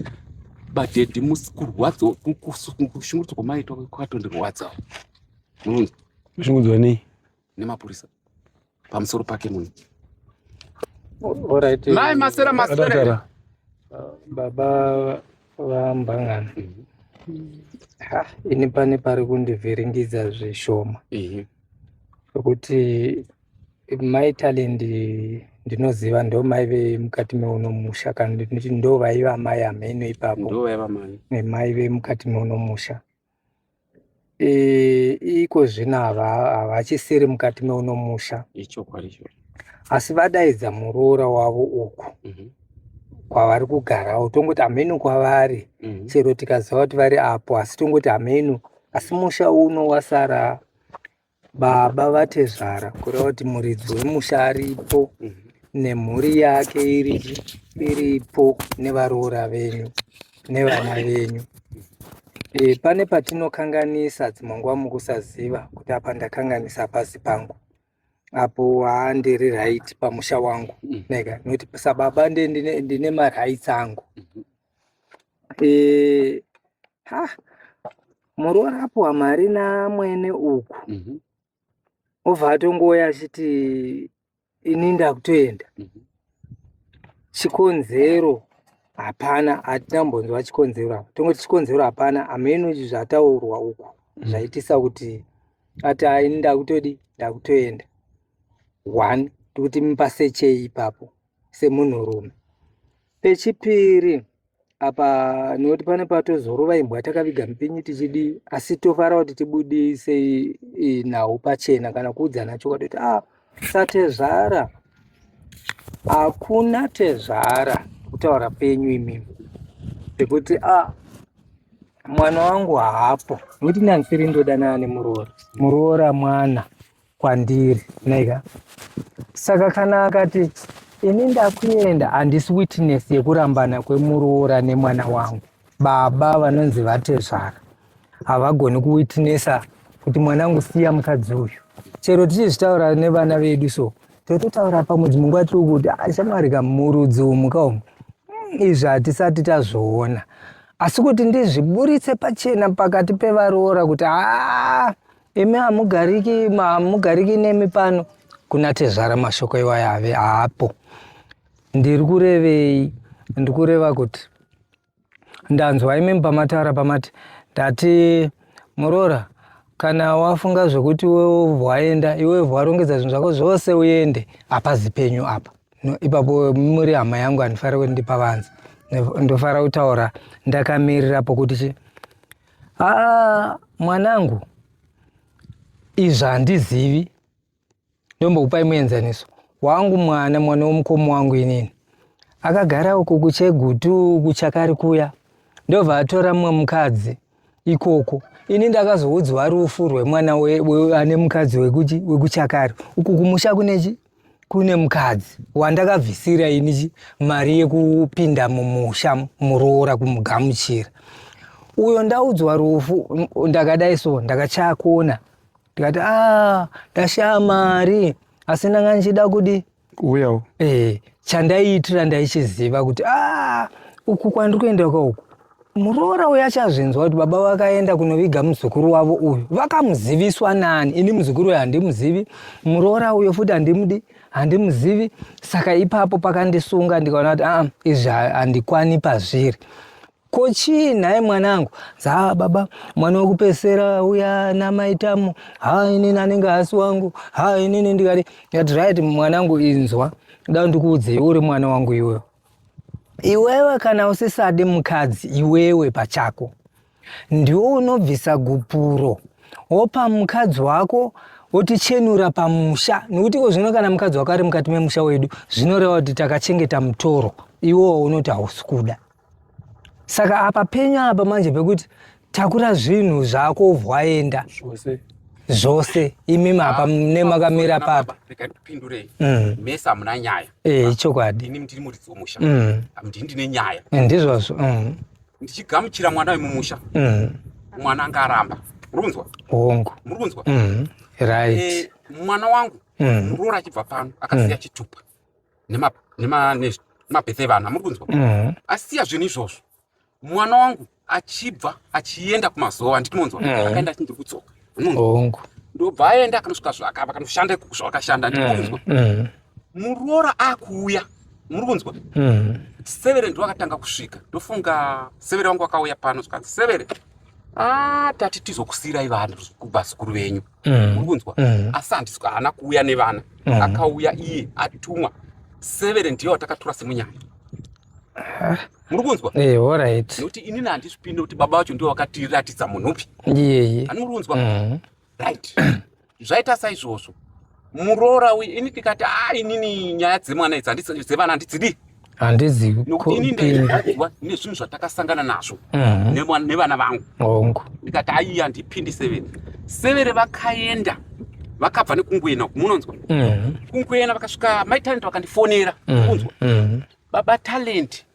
badhedhi musi kurwadza kushungurudzwa kwamaitwa kwakatondirwadza kushungurudzwa nei nemapurisa pamusoro pake munhu Alright. Mai masera masera. Adakara. Baba vambangana. Ha, ini pane pari kundivhiringidza zvishoma Ehe. zvekuti mai talent ndinoziva ndo mai vemukati meuno musha kana ndinoti ndo vaiva mai ameno ipapo Ndovaiva mai. nemai vemukati meuno musha iko zvino havachisiri mukati meuno musha asi vadaidza muroora wavo uku mhm. kwavari kugarawo tongoti hameno kwavari mhm. chero tikaziva kuti vari apo asi tongoti hameno asi musha uno wasara Baba vatezvara kureva kuti muridzi wemusha aripo nemhuri yake iri iripo nevaroora venyu nevana venyu e, pane patinokanganisa dzimwe nguva mukusaziva kuti apa ndakanganisa pasi pangu apo handiri right pamusha wangu nega nokuti sababa ndine marights angu eh, ha murorapwa mari namwene uku mm -hmm. obva atongouya achiti ini ndakutoenda mm -hmm. chikonzero hapana hatina mbonzwa chikonzero apa tongoti chikonzero hapana hameno izvi zvataurwa uku mhm. zvaitisa kuti ati ini ndakutodi ndakutoenda one tikuti mipasechei ipapo semunhurume. Pechipiri apa nekuti pane patozorova imbwa takaviga mupinyi tichidi asi tofara kuti tibudise nhau pachena kana kuudzana chokwadi kuti ah satezvara hakuna tezvara kutaura penyu imi pekuti ah mwana wangu haapo nekuti nanfiri ndodana ane muroora muroora mwana kwandiri nega saka kana akati ini ndakuenda handisi witness yekurambana kwemuroora nemwana wangu baba vanonzi vatezvara havagoni kuwitnessa kuti mwana wangu siya mukadzi uyu chero tichizvitaura nevana vedu so tototaura pamudzi munguva tiri kuti ah, shamwari kamurudzi umu kaumu hmm, izvi hatisati tazviona asi kuti ndizviburitse pachena pakati pevaroora kuti haa ah, Imi hamugariki hamugariki nemi pano kuna tezvara mashoko iwayo ave haapo ndiri kurevei ndiri kureva kuti ndanzwa imimi pamataura pamati ndati muroora kana wafunga zvekuti iwewe waenda iwewe warongedza zvinhu zvako zvose uende hapazi penyu apa no, ipapo muri hama yangu handifarira kuti ndipavanzi ndofara kutaura ndakamirira pokuti Ah, mwanangu izvi handizivi ndombokupai muenzaniso wangu mwana mwana womukomo wangu inini akagara uko kuchegutu kuchakari kuya ndobva atora mumwe mukadzi ikoko ini ndakazoudzwa rufu rwemwana ane mukadzi wekuchakari uku kumusha kunechi kune mukadzi wandakabvisira ini mari yekupinda mumusha muroora kumugamuchira uyo ndaudzwa rufu ndakadai so ndakachakona ndikati a ah, ndashaya mari asi ndanga ndichida kudi uyawo e, eh, chandaiitira ndaichiziva kuti a ah, uku kwandiri kuenda kwauku Muroora uyu achazvinzwa kuti baba vakaenda kunoviga muzukuru wavo uyu vakamuziviswa nani? Ini muzukuru uyu handimuzivi, muroora uyo futi handimudi, handimuzivi. Saka ipapo pakandisunga ndikaona kuti aa, izvi handikwani pazviri ko chii nhai mwanangu za baba mwana wekupesera uya namaitamo ha inini anenge hasi wangu ha inini ndikati ndikati right mwanangu inzwa da ndikuudzei uri mwana wangu iwewe Iwewe kana usisadi mukadzi iwewe pachako ndiwo unobvisa gupuro wopa mukadzi wako wotichenura pamusha nokuti iko zvino kana mukadzi wako ari mukati memusha wedu zvinoreva kuti takachengeta mutoro iwowo unoti hausi kuda saka apa penyu apa manje pekuti takura zvinhu zvako vwaenda zvose zvose imi mapa ah, mune makamira papa ndipindurei mm. mese hamuna nyaya eh, ichokwadi ini ndiri muridzi wemusha mm. ndii ndine nyaya eh, ndizvozvo mm. ndichigamuchira mwana wemumusha mwana anga aramba muri kunzwa hongu muri kunzwa right eh, mwana wangu muroora achibva pano akasiya chitupa nemabethe evana muri kunzwa asiya zvinhu izvozvo mwana wangu achibva achienda kumazowa handiti monzwa mm. akaenda achinzi kutsoka hongu ndobva aenda akanosvika zvakapa akanoshanda zvakashanda ndikunzwa mm, mm. muroora akuuya muri kunzwa mm. severe ndo akatanga kusvika ndofunga severe wangu akauya pano zvikanzi severe ah, tati tizokusiirai vana kubhasikuru venyu muri kunzwa asi handisi haana kuuya nevana akauya iye atumwa severe ndiyo atakatura semunyaya muri kunzwa eh alright nekuti ini nandisvipinde kuti baba vacho ndiwo vakatiratidza munhu upi yeye ani muri kunzwa mhm. right zvaita saizvozvo muroora uyu ini tikati a ah, inini nyaya dzemwana idzi dzevana handidzidi handizivi nokuti ini ndairwadziwa nezvinhu zvatakasangana nazvo mhm. nevana vangu hongu ndikati aiyi handipindi severe severe vakaenda vakabva nekunguena uku munonzwa mhm. kunguena vakasvika maitalent vakandifonera kunzwa Baba Talent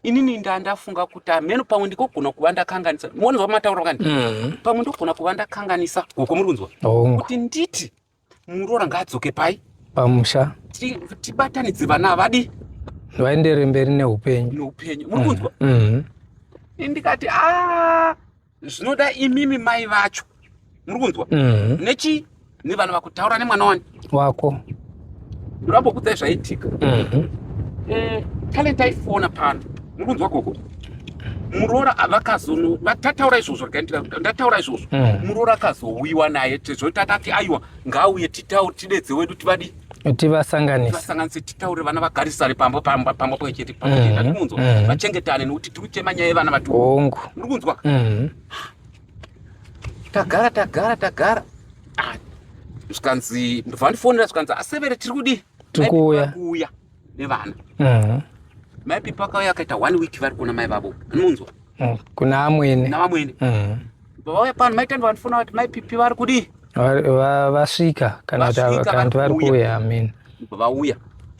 inini ndandafunga kuti ameno pamwe ndikogona kuva ndakanganisa monzwa mataura kani mm. pamwe ndogona kuva ndakanganisa goko muri kunzwa oh. kuti nditi muroora ngaadzoke pai pamusha tibatanidze vana avadi vaendere mberi neupenyu neupenyu muri kunzwa mm. mm. ndikati a ah, zvinoda imimi mai vacho muri kunzwa mm. nechi nevanhu vakutaura nemwana wani wako ndorambokudza zvaitika mhm. eh, talent aifona pano muri kunzwa koko muroora vakazono vatataura izvozvo rikaendera ndataura izvozvo mm. muroora akazowiwa naye tezvoti akati aiwa ngaauye titaure tidedze wedu tivadi tivasanganise tivasanganise titaure vana vagarisane pambo pambo pambo pamwe chete pamwe chete Mhm, kunzwa mhm. vachengetane nekuti tiri kuchema nyaya yevana vati hongu muri kunzwa Mhm. tagara tagara tagara Ah, zvikanzi ndovandifonera zvikanzi asevere tiri kudii Tiri kuuya. kuuya nevana mm. mai pipo akauya akaita one week vari kuona mai vavo anonzwa mm. kuna amwene navamwene mm. vauya pano mai tandi vanofona kuti mai pipi vari kudii vasvika kana kuti vari kuuya amen vauya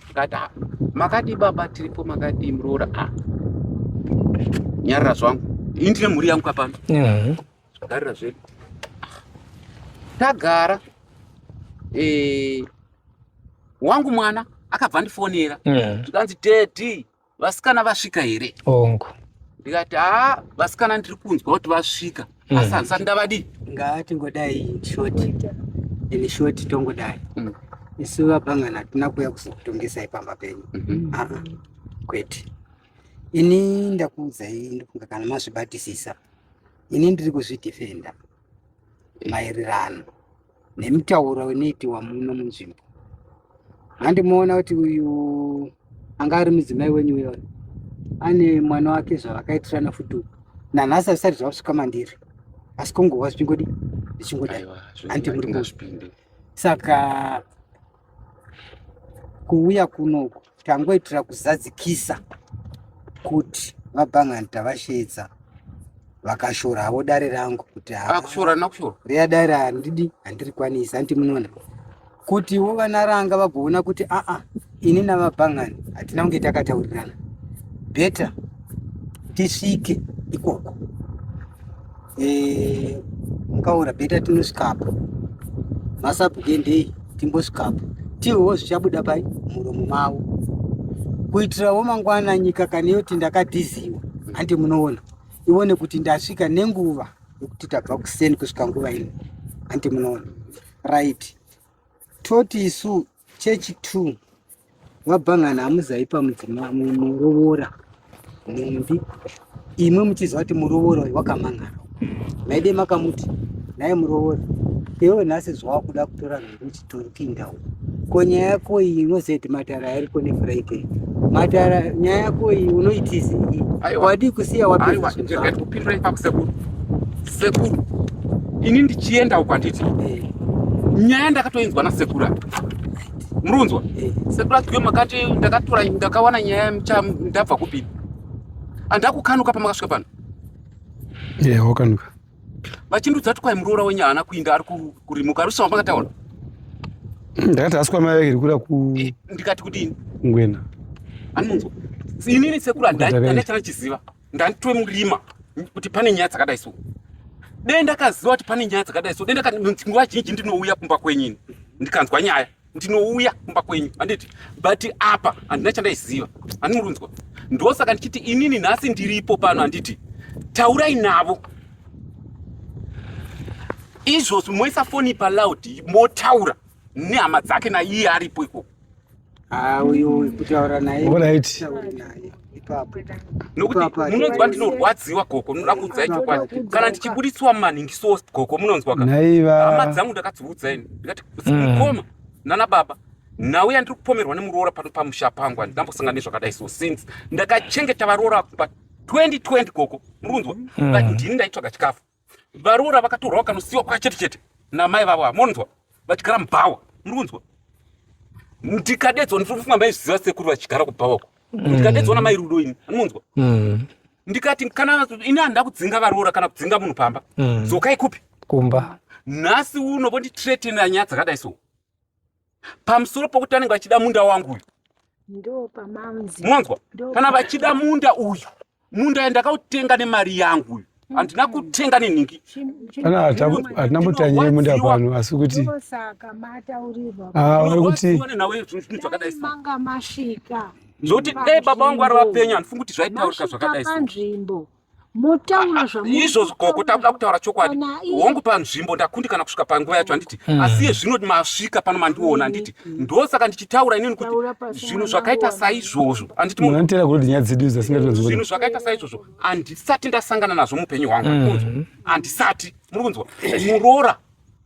akati ah, makadii baba tiripo makadii muroora ah. nyarira zvangu ini ndine mhuri yangu kapano mm. Zvakarira zvedu. Tagara. Eh wangu mwana akabva ndifonera. Yeah. Tikanzi daddy vasikana vasvika here? Ongo. Ndikati ah vasikana ndiri kunzwa kuti vasvika. Mm. Asi handisati ndavadi. Ngaati ngodai short. Ini short tongodai. Mm. Isu vabangana tuna kuya kuzotongesa ipamba penyu. Mm -hmm. Ah. Kwete. Ini ndakuudzai ndofunga kana mazvibatisisa. ini ndiri kuzvidhifenda eh. maererano nemitauro inoitiwa muno munzvimbo handimuona kuti uyu anga ari mudzimai wenyu uyo ane mwana wake zvavakaitirana futi nanhasi azvisati zvavasvika mandiri asi kungova zvichingodi zvichingodai hanti muri saka kuuya kunoku tangoitira kuzadzikisa kuti vabhangani tavasheedza vakashora havo dare rangu kuti akushora nakushora reya dare handidi handiri kwanisa hanti munoona kutiwo vana ranga vagoona kuti aa ini navabhangani hatina kunge takataurirana beta tisvike ikoko eh, mukaora beta tinosvikapo masabhugendei timbosvikapo tihowo zvichabuda pai muromo mavo kuitirawo mangwana nyika kana yoti ndakadhiziwa handi munoona ione kuti ndasvika nenguva yekuti tabva kuseni kusvika nguva ino handi munoona right toti isu chechi two vabhangana hamuzaipa mudzima murovora nhumbi imwe muchiziva kuti murovora uyu wakamangana maide makamuti naye murovora iwe nhasi zvawakuda kutora nhumbi uchitori kuinda uku ko nyaya yako iyi inoziva kuti matara yariko nefriday matara nyaya yako iyi unoitizi wadii kusiya wapedza kupindura ipapo sekuru Sekuru, ini ndichienda uko handiti? Eh. Nyaya ndakatoinzwa nasekuru apa. Murunzwa? Eh. Sekuru ati makati ndakatora ndakawana nyaya mcha ndabva kupi? Andakukanuka pamakasvika pano. Yeah, wakanuka. Vachindudza kuti kwai muroora wenyu haana kuinda ari kurimuka rusha wamakataura. Ndakati asi kwamai vake ndikuda ku eh, ndikati kudini? Ngwena. Anonzwa. Inini sekuru handaichana chiziva. ndanditwe murima kuti pane nyaya dzakadai so dai ndakaziva kuti pane nyaya dzakadai so dai nguva zhinji ndinouya kumba kwenyini ndikanzwa nyaya ndinouya kumba kwenyu handiti but apa handina chandaiziva handimurunzwa ndosaka ndichiti inini nhasi ndiripo pano handiti taurai navo izvozvi moisa foni paloud motaura nehama dzake naiye aripo ikoko Ah, uyu kutaura naye nokuti munonzwa ndinorwadziwa gogo munoda kuudzai chokwadi kana ndichibudisiwa mumanhingiso gogo munonzwa ka hama dzangu ndakadziudza ini ndikati mukoma mm. nana baba nhau yandiri kupomerwa nemuroora pano pamusha pangu handinambosangana nezvakadai so since ndakachengeta varoora pa 2020 gogo murunzwa mm. ndini ndaitsvaga chikafu varoora vakatorwa vakanosiwa kwa chete chete namai vavo ava monzwa vachigara mubhawa muri kunzwa ndikadedzwa ndiri kufunga maiziva sekuru vachigara kubhawa uko mm. ndikadedzwa namai rudo ini anonzwa mm. ndikati kana ini handida kudzinga varoora kana kudzinga munhu pamba mm. dzokai kupi kumba nhasi uno vonditretena nyaya dzakadai so pamusoro pokuti vanenge vachida munda wangu uyu ndopamanzimwanzwa kana vachida munda uyu munda uyu ndakautenga nemari yangu uyu mm. handina kutenga nenhingi kana hatina mutanye yemunda pano asi kuti vari kuti zvokuti dai baba vangu vari vapenyu handifungi kuti zvaitaurika zvakadai motaura izvozvo gogo takuda kutaura chokwadi hongu panzvimbo ndakundikana kusvika panguva yacho handiti hmm. asi iye zvino masvika pano mandiona handiti hmm. ndosaka ndichitaura inini kuti zvinhu zvakaita saizvozvo anditizvinhu zvakaita saizvozvo handisati ndasangana nazvo muupenyu hwangu hmm. handisati muri kunzwa muroora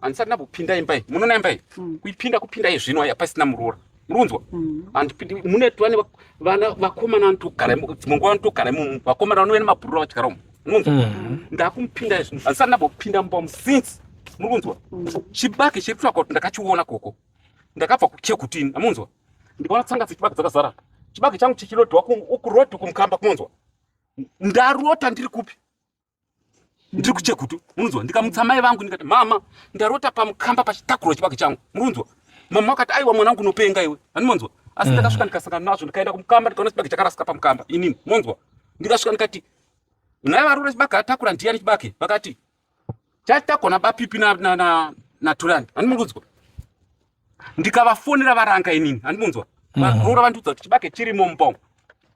handisati ndambopinda imba iyi munoona imba iyi kuipinda kupinda izvino aya pasina muroora runzwa mm. and mune vane vana vakomana vanotogara dzimwe nguva vanotogara imomo vakomana vanove nemabhurura vachigara umo munonzwa mm. ndakumupinda izvi handisati ndambopinda mumba musince muri kunzwa mm. chibage chiri kutsvaka kuti ndakachiona koko ndakabva kuchekutini amunzwa ndikaona tsanga dzechibage dzakazara chibage changu chichirodiwa ukurodi kumukamba kumonzwa ndarota ndiri kupi ndiri kuchekutu munonzwa ndikamutsa mai vangu ndikati mama ndarota pamukamba pachitakuro chibage changu murunzwa mama wakati aiwa mwana wangu nopenga iwe handimonzwa asi mm. ndakasvika ndikasangana nazvo ndikaenda kumukamba ndikaona chibage chakarasika pamukamba inini monzwa ndikasvika ndikati naye varura chibage atakura ndiyani chibage vakati chatakurwa nabapipi naturani handimonzwa ndikavafonera varanga inini handimunzwa mm. varoora vandiudza kuti chibage chirimo mupongo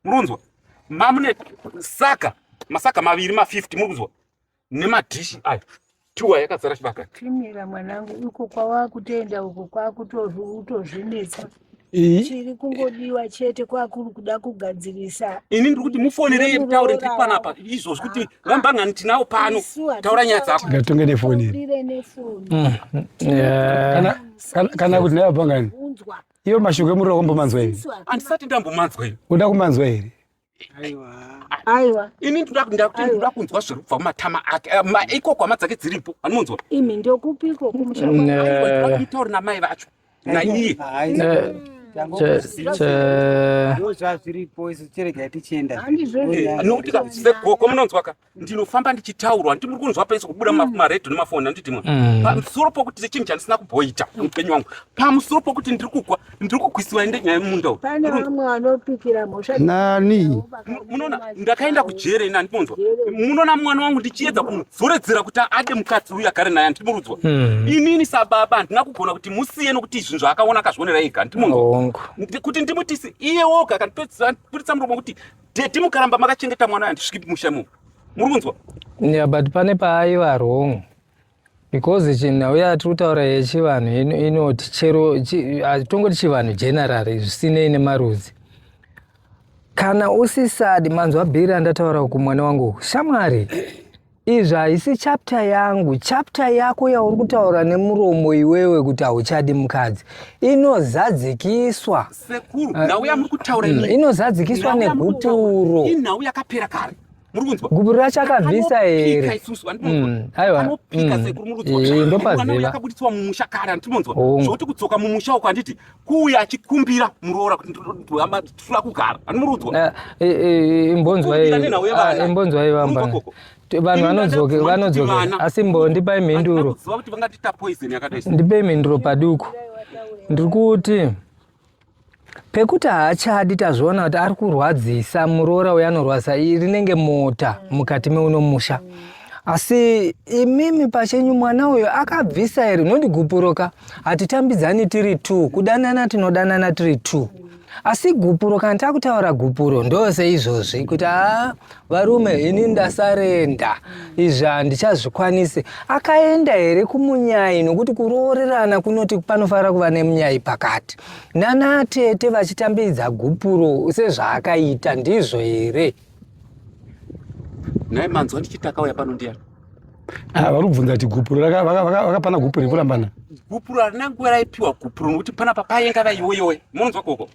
murunzwa mamune saka masaka maviri ma 50 muri kunzwa nemadhishi ayo tuwa yakazara chibaka timira mwanangu uko kwawakutenda uko kwakutozvinetsa chiri kungodiwa chete kwakuri kuda kugadzirisa ini ndiri kuti mufonerei mutaure ndiri panapa izvozvi kuti ah. vambangani tinawo pano taura nyaya dzako ngatonge nefoni mm, mm, kana kuti naye vambangani iyo mashoko emuriro wambomanzwa here handisati ndambomanzwa here uda kumanzwa here aiwa ini ndoda kuti ndoda kunzwa zviri kubva mumatama ake eh, maiko kwama dzake dziripo anomunzwa imi ndokupiko kumushaitauri namai vacho naiye nokuti sekoko munonzwaka ndinofamba ndichitaurwa ndimuri kunzwa pese kubuda maredio nemafoni andidimwa mm. pamusoro pokuti sechinhu chandisina kuboita mupenyu wangu pamusoro pokuti ndiri kukwa ndiri kukwisiwa ndenyaya yemunda uyu nani munoona ndakaenda kujere ini andiponzwa munoona mwana wangu ndichiedza kumudzoredzera kuti ade mukadzi uyu agare naye andimurudzwa hmm. inini sababa handina kugona kuti musiye nokuti izvi zvaakaona akazvionera ega andimunzwa kuti ndimutise iye woga akandipetsa muromo kuti dedi mukaramba makachengeta mwana uyu handisviki musha mu muri kunzwa yeah but pane paaiva wrong because chinhau yatiri kutaura yechivanhu inoti chero tongoti chivanhu generally zvisinei nemarudzi kana usisadi manzwa bhiri andataura uku mwana wangu shamwari izvi haisi chapter yangu chapter yako yauri kutaura nemuromo iwewe kuti hauchadi mukadzi inozadzikiswa sekuru nhau yamuri kutaura eh, mm, inozadzikiswa negupuro inhau yakapera kare murikunzwa gubu racho akabvisa here mm, aiwa mm. eh, ndopaziva akabuditswa mumusha kare andimonzwa oh. zvokuti kudzoka mumusha uko anditi kuuya achikumbira muroora kuti ndihamba tula kugara andimurudzwa eh, eh, imbonzwaimbonzwai vamba vanhu vanodzoke vanodzoke asi mbo ndipai mhinduro ndipai mhinduro paduku ndiri kuti pekuti haachadi tazviona kuti ari kurwadzisa muroora uyo anorwadza rinenge mota mukati meuno musha asi imimi pachenyu mwana uyo akabvisa here nondigupuroka hatitambidzani tiri t kudanana tinodanana tiri t asi gupuro kana takutaura gupuro ndose izvozvi kuti haa varume ini ndasarenda izvi handichazvikwanise akaenda here kumunyai nokuti kuroorerana kunoti panofanira kuva nemunyai pakati nanatete vachitambidza gupuro sezvaakaita ndizvo here nhai manzwa ndichitakauya pano ndiyani ah, vari kubvunza kuti gupuro vakapana gupuro rekurambana gupuro harina nguva raipiwa gupuro nokuti panapa payenga vaiyoyoe munonzwa koko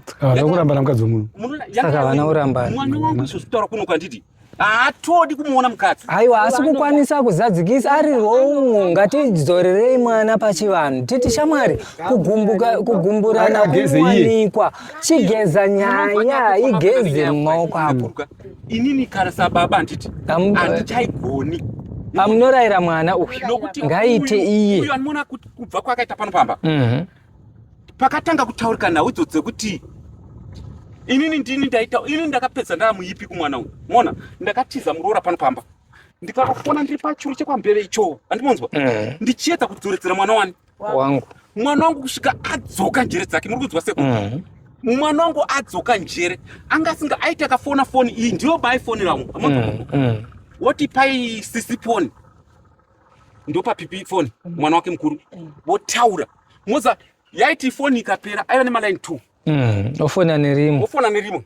Tsika kuramba na mukadzi wemunhu. Saka vana uramba. Mwana wangu zvositaura kuno kwanditi. Haatodi kumuona mukadzi. Aiwa asi kukwanisa kuzadzikisa ari wrong. Ngatidzorerei mwana pachivanhu. Titi shamwari kugumbuka kugumburana kuwanikwa. Chigeza nyaya igeze mumaoko apo. Inini kana sababa anditi. Andichaigoni. Amunoraira mwana uyu. Ngaite iye. Uyu anoona kubva kwakaita pano pamba. Mhm. pakatanga kutaurika nhau idzo dzekuti inini ndini ndaita inini ndakapedza ndaamuipi kumwana uyu mona ndakatiza muroora pano pamba ndikakufona ndiri pachuru chekwambeve ichoo andimonzwa mm. ndichiedza kudzoredzera mwana wani wangu mwana wangu kusvika adzoka njere dzake muri kunzwa seku mm. mwana wangu adzoka njere anga asinga aita kafona foni iyi ndiyo baifonera wangu mm, woti pai sisiponi ndopa pipi foni mm. mwana wake mukuru mm. votaura moza yaiti foni ikapera aiva nemaline two mm. ofona nerimwe ofona nerimwe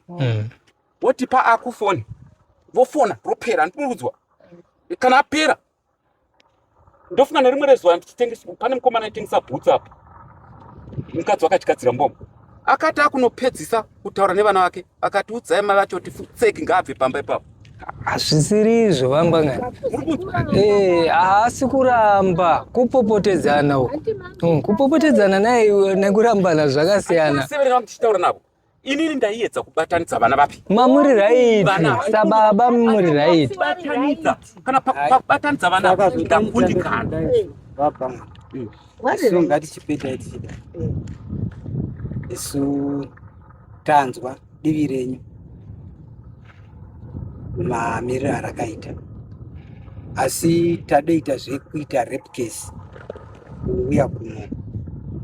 woti pa aku foni vofona ropera ndikurudzwa kana apera ndofunga nerimwe rezuva pane mukomana aitengesa bhutsi apa mukadzi wakatigadzira mbombo akati akunopedzisa kutaura nevana vake Akati udzai mai vacho kuti futseki ngaabve pamba ipapo. Hazvisiri izvo vangwangana. Eh, haasi kuramba kupopotedzana uko. Mm, kupopotedzana naye iwe nekurambana zvakasiyana. Severera muchitaura navo. Inini ndaiedza kubatanidza vana vapi? Mamuri right. Vana. Sababa muri right. Batanidza. Kana pa- pa- kubatanidza vana ndakundikana. Vabva. so ngatichipedai tichida isu tanzwa divi renyu mamiriro arakaita asi tadoita zvekuita rape case kuuya kuno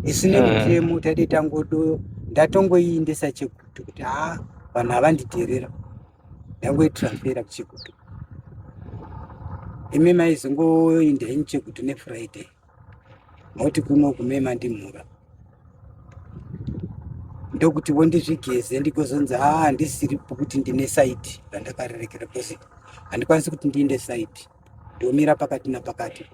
isu nemutemo hmm. taide tangodo ndatongoiindisa chekutu kuti haa vanhu havandidherera ndangoitransfera kuchekutu imi maizongoinda ini chekutu nefriday moti kuno kume mandimhura ndokuti wondizvigeze ndikozonzi haa ah, handisiri pokuti ndine saiti randakarerekera bcause handikwanisi kuti ndiinde saiti ndomira pakati napakati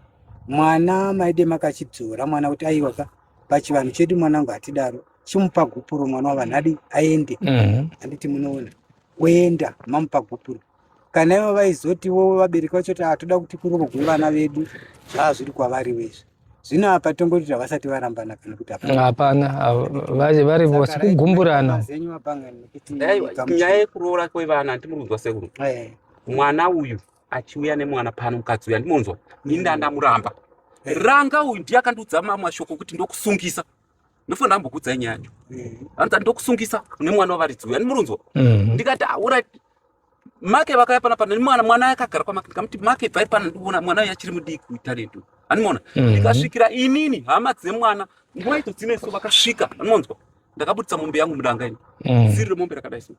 mwana maide makachidzora mwana kuti aiwa ka pachivanhu chedu mwanangu hatidaro chimupa gupuro mwana wavanhadi aende mhm. handiti munoona oenda mamupa gupuro kana ivo vaizotiwo vabereki vacho kuti hatoda kuti kurogwe vana vedu zvaa zviri kwavariwo izvi zvino apa tongoti havasati varambana kana kuti hapana vari vose kugumburana nyaya yekuroora kwevana handimuri kunzwa sekuru eh. mwana uyu achiuya nemwana pano mukadzi uyu handimonzwa ini ndandamuramba ranga uyu ndiye akandiudza mamwe mashoko kuti ndokusungisa ndofanira ambokudzai nyaya yacho mm-hmm. anza ndokusungisa une mwana wavaridzi uyu ani murunzwa mm-hmm. ndikati aurit ah, make vakaya pana pana mwana mwana akagara kwamake ndikamuti make bvai pana ndiona mwana uyu achiri mudiki utaretu animona mm-hmm. ndikasvikira inini hama dzemwana nguva idzo dzine so vakasvika animonzwa ndakabudisa mombe yangu mudanga ini mm. ziri remombe rakadai so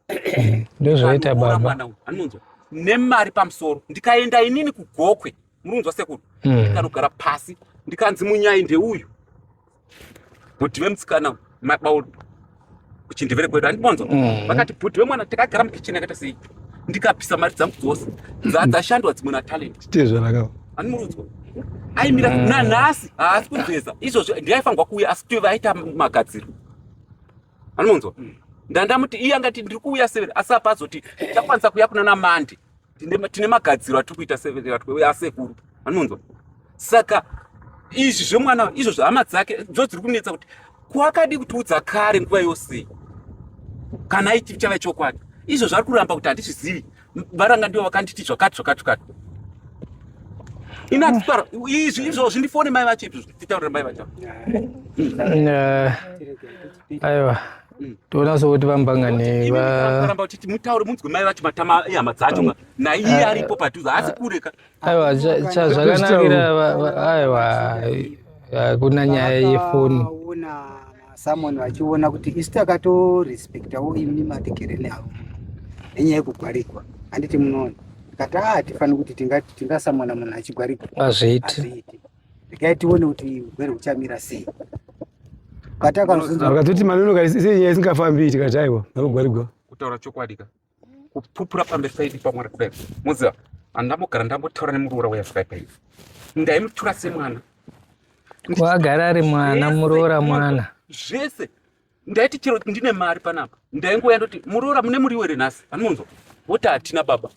ndozvaita baba animonzwa nemari pamusoro ndikaenda inini kugokwe murunzwa sekuru hmm. ndikanogara pasi ndikanzi munyai ndeuyu bhuti vemusikana mabaul kuchindevere kwedu andibonzwa hmm. vakati bhuti vemwana takagara mukicheni akaita sei ndikapisa mari dzangu dzose dzadzashandwa dzimwe natalent tezvanaka andimurudzwa aimira hmm. nanhasi haasi kugeza izvozvo ndiaifanirwa kuuya asi tove aita magadziro andimunzwa ndandamuti iye angati ndiri kuuya severe asi apa azoti takwanisa kuya kuna namandi tine magadziro atiri kuita asekuru anonzwa saka izvi zvemwana izvo zvehama dzake dzo dziri kunetsa kuti kwakadi kutiudza kare nguva yose kana aiti chava chokwadi izvo zvari kuramba kuti handizvizivi varanga ndivo vakanditi zvakati zvakati zvakati inatitaura izvi izvo zvindifone mai vacho izvi zvitaurira mai vacho eh, aiwa toda so kuti vambangane varamba kuti mutaure munzwe mai vacho matama ehama dzacho na iye aripo padhuze haasi kure ka aiwa chazvakanakira aiwa hakuna nyaya yefoni someone vachiona kuti isu takatorespectawo imni matekereni avo nenyaya yekugwarikwa handiti munoona kati a ah, hatifaniri kuti tingasamwana munhu achigwarikwa hazviiti regai tione kuti hurwere huchamira sei akatoti manono kaisenyaya isingafambi tikati aiwa nalogwarigwa kutaura chokwadi ka kupupura pamberi paidi pamwari kudai moziva andambogara ndambotaura nemuroora weyasvika ipai ndaimutura semwana agara ari mwana muroora mwana zvese ndaiti chero ndine mari panapa ndaingouya ndoti muroora mune muriwo here nhasi anonzwa woti hatina baba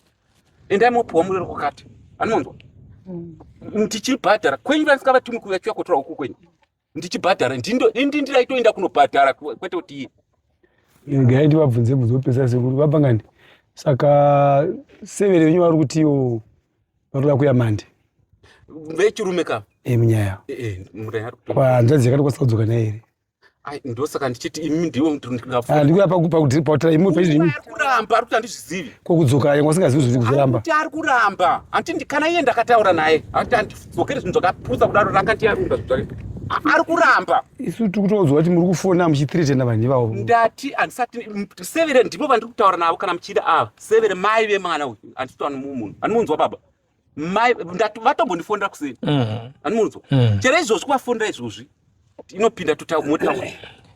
endai mopiwa murero kwakati anonzwa mm. tichibhadhara kwenyu vanisingavatumi kuuya chiuya kotora uku kwenyu ndichibhadhara indi ndaitoenda kunobhadhara kwete kuti iye gai ndivabvunze bvunze vopesa sekuru vabva ngani saka severe venyu vari kutiwo vanoda kuya mande vechirume ka eh, munyaya eh, eh, kwanzvadzi yakatokwanisa kudzoka naye here ndosaka ndichiti imi ndiwo ndikuyapakutira imi pezvi imi kuramba ari kuti andizvizivi kokudzoka yanga usingazivi zviri kuzoramba kuti ari kuramba handiti kana iye ndakataura naye handiti handidzokere zvinhu zvakapusa kudaro ranga ndiyarunda zvinhu zvake ari kuramba isu tiri kutoonzwa kuti muri kufona muchithiretena vanhu ivavo ndati handisati severe ndipo vandiri kutaura navo kana muchida ava severe mai vemwana uyu handisitaura nemumunhu andimunzwa baba mai vatombondifonera kuseni mm-hmm. anomunzwa mm. chero izvozvi kuvafonera izvozvi inopinda totamotaura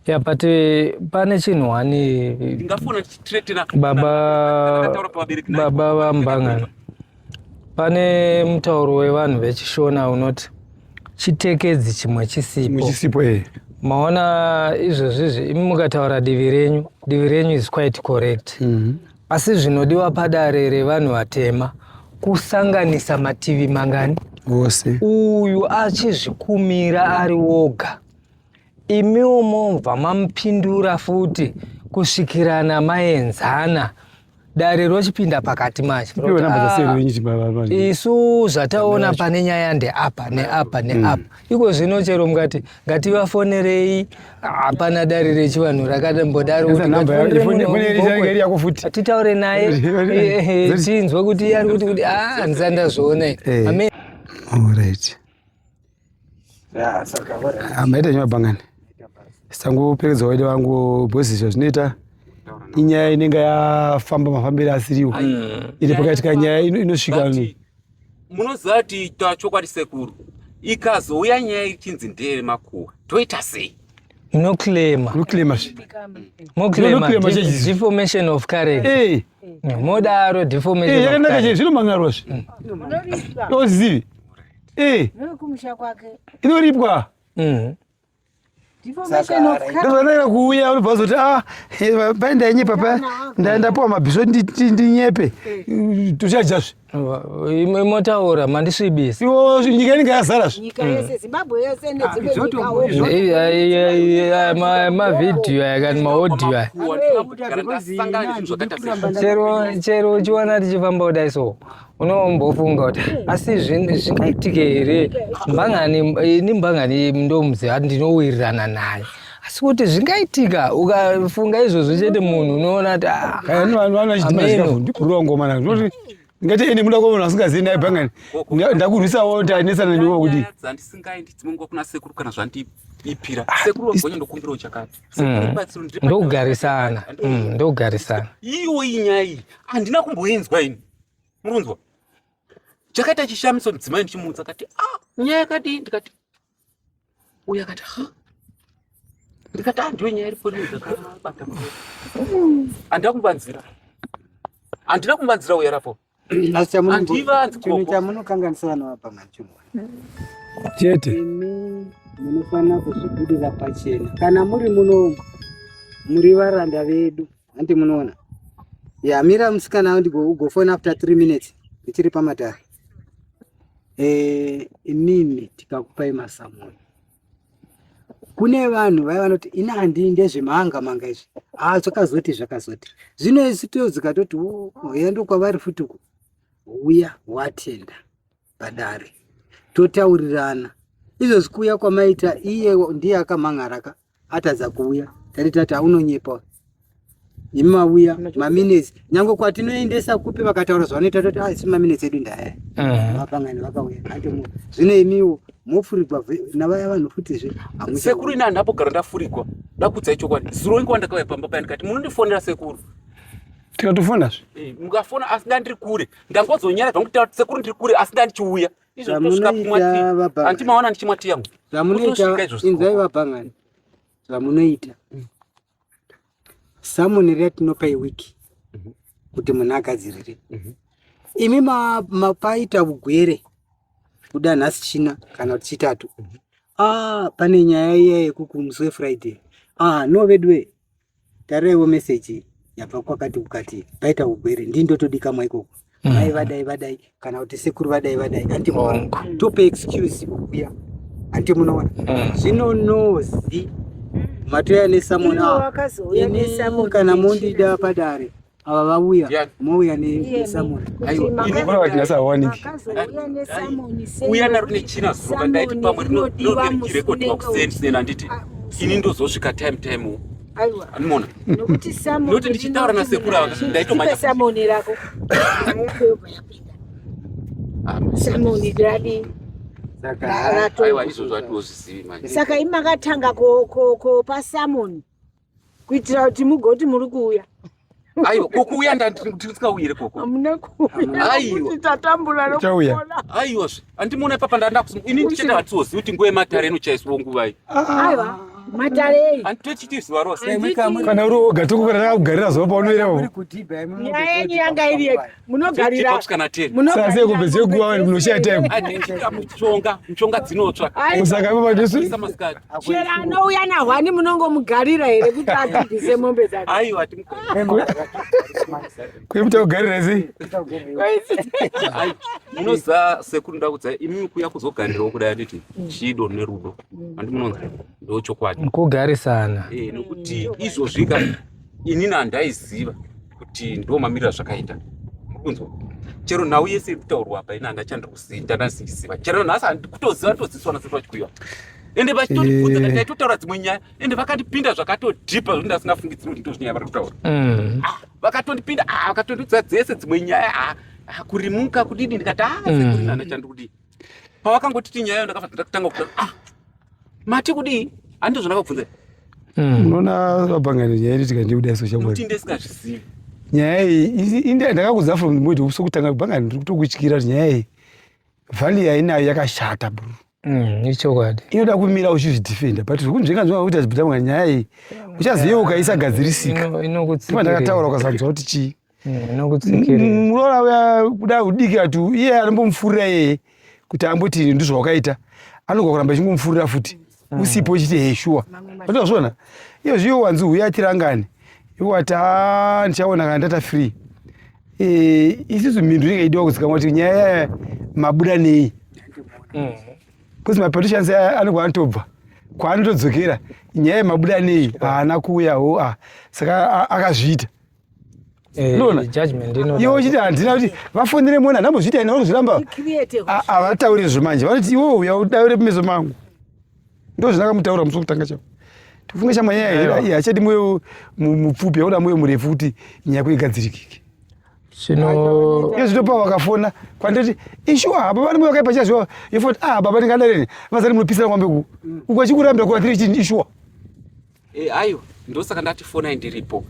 ya but eh, pane chinhu wani ndingafona tichiretera baba baba vambangana pane mutauro wevanhu vechishona unoti chitekedzi chimwe chisipo chisipo eh maona izvozvizvi imi mukataura divi renyu divi renyu is quite correct mm -hmm. Asi zvinodiwa padare revanhu vatema kusanganisa mativi mangani ose, uyu achizvikumira ari woga, imiwo momva mamupindura futi kusvikirana maenzana dare rochipinda pakati manje ah, isu zvataona pane nyaya ndeapa neapa neapa mm. iko zvino chero mukati ngativafonerei hapana dare rechivanhu rakadambodaroatitaure naye eh, eh, eh, tinzwe kuti ari kuti kuti ah, handisa ndazviona iri maita nyaya bangani sangoperedza waide vangu bhosi zvazvinoita inyaya inenge yafamba mafambiro asiriwo mm. iri pakaitika nyaya inosvika munoziva kuti taura chokwadi sekuru ikazouya nyaya ichinzi ndeye makuwa toita sei munoclaima moclaima deformation of currency hey. Eh. Hmm, modaro deformation hey, eh, yakanaka chete zvinomangarwa zvi hmm. ozivi hey. Eh. inoripwa mm. Ndozvanaira kuuya unobva uzoti ah, eh, pai ndainye papa ndapuwa mabhiso ndinyepe tuchajazve imwe motaura mandisvibisa iwo nyika inenge yazara zvemavhidhiyo aya kani maodhiyo aya chero uchiona tichifamba kudai so unombofunga kuti asi zvingaitike here mbangani ini mbangani ndomuziva ndinowirirana naye asi kuti zvingaitika ukafunga izvozvo chete munhu unoona kuti ah, vanochitimakurongomana zvinoti ngati ini muda kuona asingazivi naye bhangani ndakurwisawo tanesana newe kuti dzandisingaendi dzimwe nguva kuna sekuru kana zvandiipira ah, sekuru wagonya ndokumbirawo chakati mm. ndokugarisana mm, ndokugarisana iwo iyi nyaya iyi handina kumboinzwa ini murunzwa chakaita chishamiso mudzimai ndichimuudza kati ah nyaya yakadii ndikati uya kati ha ndikati ah ndiyo nyaya iripo ndakabata andida kumbanzira andida kumbanzira uya rapo chamunokanganisa vana vapa manchimwa chete munofanira kuzvibudira pachena kana muri muno muri varanda vedu Hanti munoona. Ya mira musikana undi go go phone after 3 minutes. Ndichiri pamatare. Eh inini tikakupai masamono. Kune vanhu vaya vanoti ini handi ndezvemanga manga izvi. Ah zvakazoti zvakazoti. Zvino isu toyo zikatoti oh, oh yando kwavari futi uko. Uya watenda. padare totaurirana izvozvi kuuya kwamaita iye ndiye akamhan'araka atadza kuuya tati tati aunonyepa imi mauya maminetsi nyange kwatinoendesa kupi vakataura zvavanoita toti asi ah, maminetsi edu ndaya vapangani vakauya ati zvino imiwo mofurigwa navaya vanhu futizve sekuru ini handapo gara ndafurigwa ndakudza ichokwadi zuro inge wandakauya pamba payani kati munondifonera sekuru tikatofonazve eh, mukafona asi da ndiri kure ndangozonyara zvangu kutaura sekuru ndiri kure asi ndandichiuya izvozvosvikaandimawona ndichimwa ti yangu zvamunoitainzai vabhangani zvamunoita mm. samoni ratinopa iwiki mhm. kuti munhu agadzirire mhm. imi mapaita ugwere kuda nhasi china kana kuti chitatu mhm. ah, pane nyaya iya yekukumuswe friday ah, no veduwe Tarevo message yabva kwakati kukati paita ugwere ndini ndotodikamwa ikoko mm. mai vadai vadai kana kuti sekuru vadai vadai anti tope excuse kukuya anti munoona mm. zvino nozi matoya nesamona ini kana mondida padare Ava vauya mouya nesamoni uya naro nechina zuva ndaiti pamwe rinodirekodwa kuseni sinena handiti ah, ini ndozosvika time time aiwa anomona nokuti samoni nokuti ndichitaura nasekuru ava ndaitomanya samoni rako ayakuyobva yapinda ah, samoni radi saka izvozvo atiozvizivi manje saka imakatanga kopa samoni kuitira kuti mugoti muri kuuya aiwa kokuuya ndatisingauyire koko amuna kuuyaaiwa tatambura nokuona aiwa zve andimuona ipapa ndandakusi ini ndichenda hatizozivi kuti nguva yematare inochaiswa nguvai aiwa matare eyi anditochiti zuva rose kana uri oga tokukana takakugarira zuva paunoira nyaya yenyu yanga iri yega munogarira munogarirazvese kupedze kuva vanhu munoshaya time mushonga mushonga dzinotsva saka ipo pajesu chera anouya nahwani munongomugarira here kuti adhibhise mombe dzake aiwa kuye muta kugarira sei munoza sekuru ndakudza imi kuya kuzogarirawo kudai anditi chido nerudo andi munonzi ndochokwadi kugarisana eh, nokuti izvozvika inini handaiziva kuti ndo mamirira zvakaita kunzwa chero nhau yese iri kutaurwa apa ini hanga chandiri kuziva ndanasiziva chero nhasi handikutoziva todzidziswa na sekuru vachikuiwa ende vachitondibvunza kati taitotaura eh. dzimwe nyaya ende vakatipinda zvakatodhipa zvokuti ndasingafungidziri kuti ndozvinyaya vari kutaura mm. ah, vakatondipinda ah, vakatondidza dzese dzimwe nyaya ah, kurimuka kudidi ndikati aa mm. sekurina ndachandikudii pawakangotiti nyaya ndakabva ndatanga kuda ah mati kudii handizvo zvandakakubvunza hmm. unoona vabhangana nyaya iri tikandiuda iso chakuti ndisingazvizivi nyaya iyi ndakakudza from mwedi usokutanga kubhangana ndiri kutokutyira kuti nyaya iyi vhali yainayo yakashata bro Mm, ichokwadi inoda kumira uchizvidefenda but zvekunzvenga zvinga kuita zibhita mwa nyaya iyi uchaziva ukaisagadzirisika inokutsikira ndakataura ukasanzwa kuti chii muroora uya kuda udiki ati iye anombomufurira iyeye kuti amboti ndizvo wakaita anogwa kuramba echingomufurira futi mm. usipo chiti hee shuwa atazviona iyo zviyo wanzi huya atirangani iwo ati a ndichaona kana ndata free e, isisu mhindu inenge idiwa kuzikamwa kuti nyaya yaya mabuda nei bcause mm. mapartitions aya anogwa anotobva kwaanotodzokera nyaya yemabuda nei haana kuuya ho a saka akazviita Eh, iwe uchiti handina kuti vafonere mwana ndambozviita ina vanozviramba havatauri izvo manje vanoti iwe uya udaure pameso mangu ndo zvindakamutaura musi wekutanga chavo tifunge chamanyaya hii hachadi moyo mupfupi yaoda moyo murefu kuti nyaya kuigadzirikike iyo zvitopa vakafona kwanditi ishuwa hapa vane moyo vakaipa chazviwa yofoti ah baba ndingadareni vazani munopisira kwambe ku uku achikurambira kuvatiri chini ishuwa Eh, ayo ndosaka ndati fonai ndiripo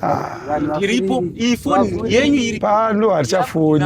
ah. ndiripo iyi foni yenyu iri pano hatichafoni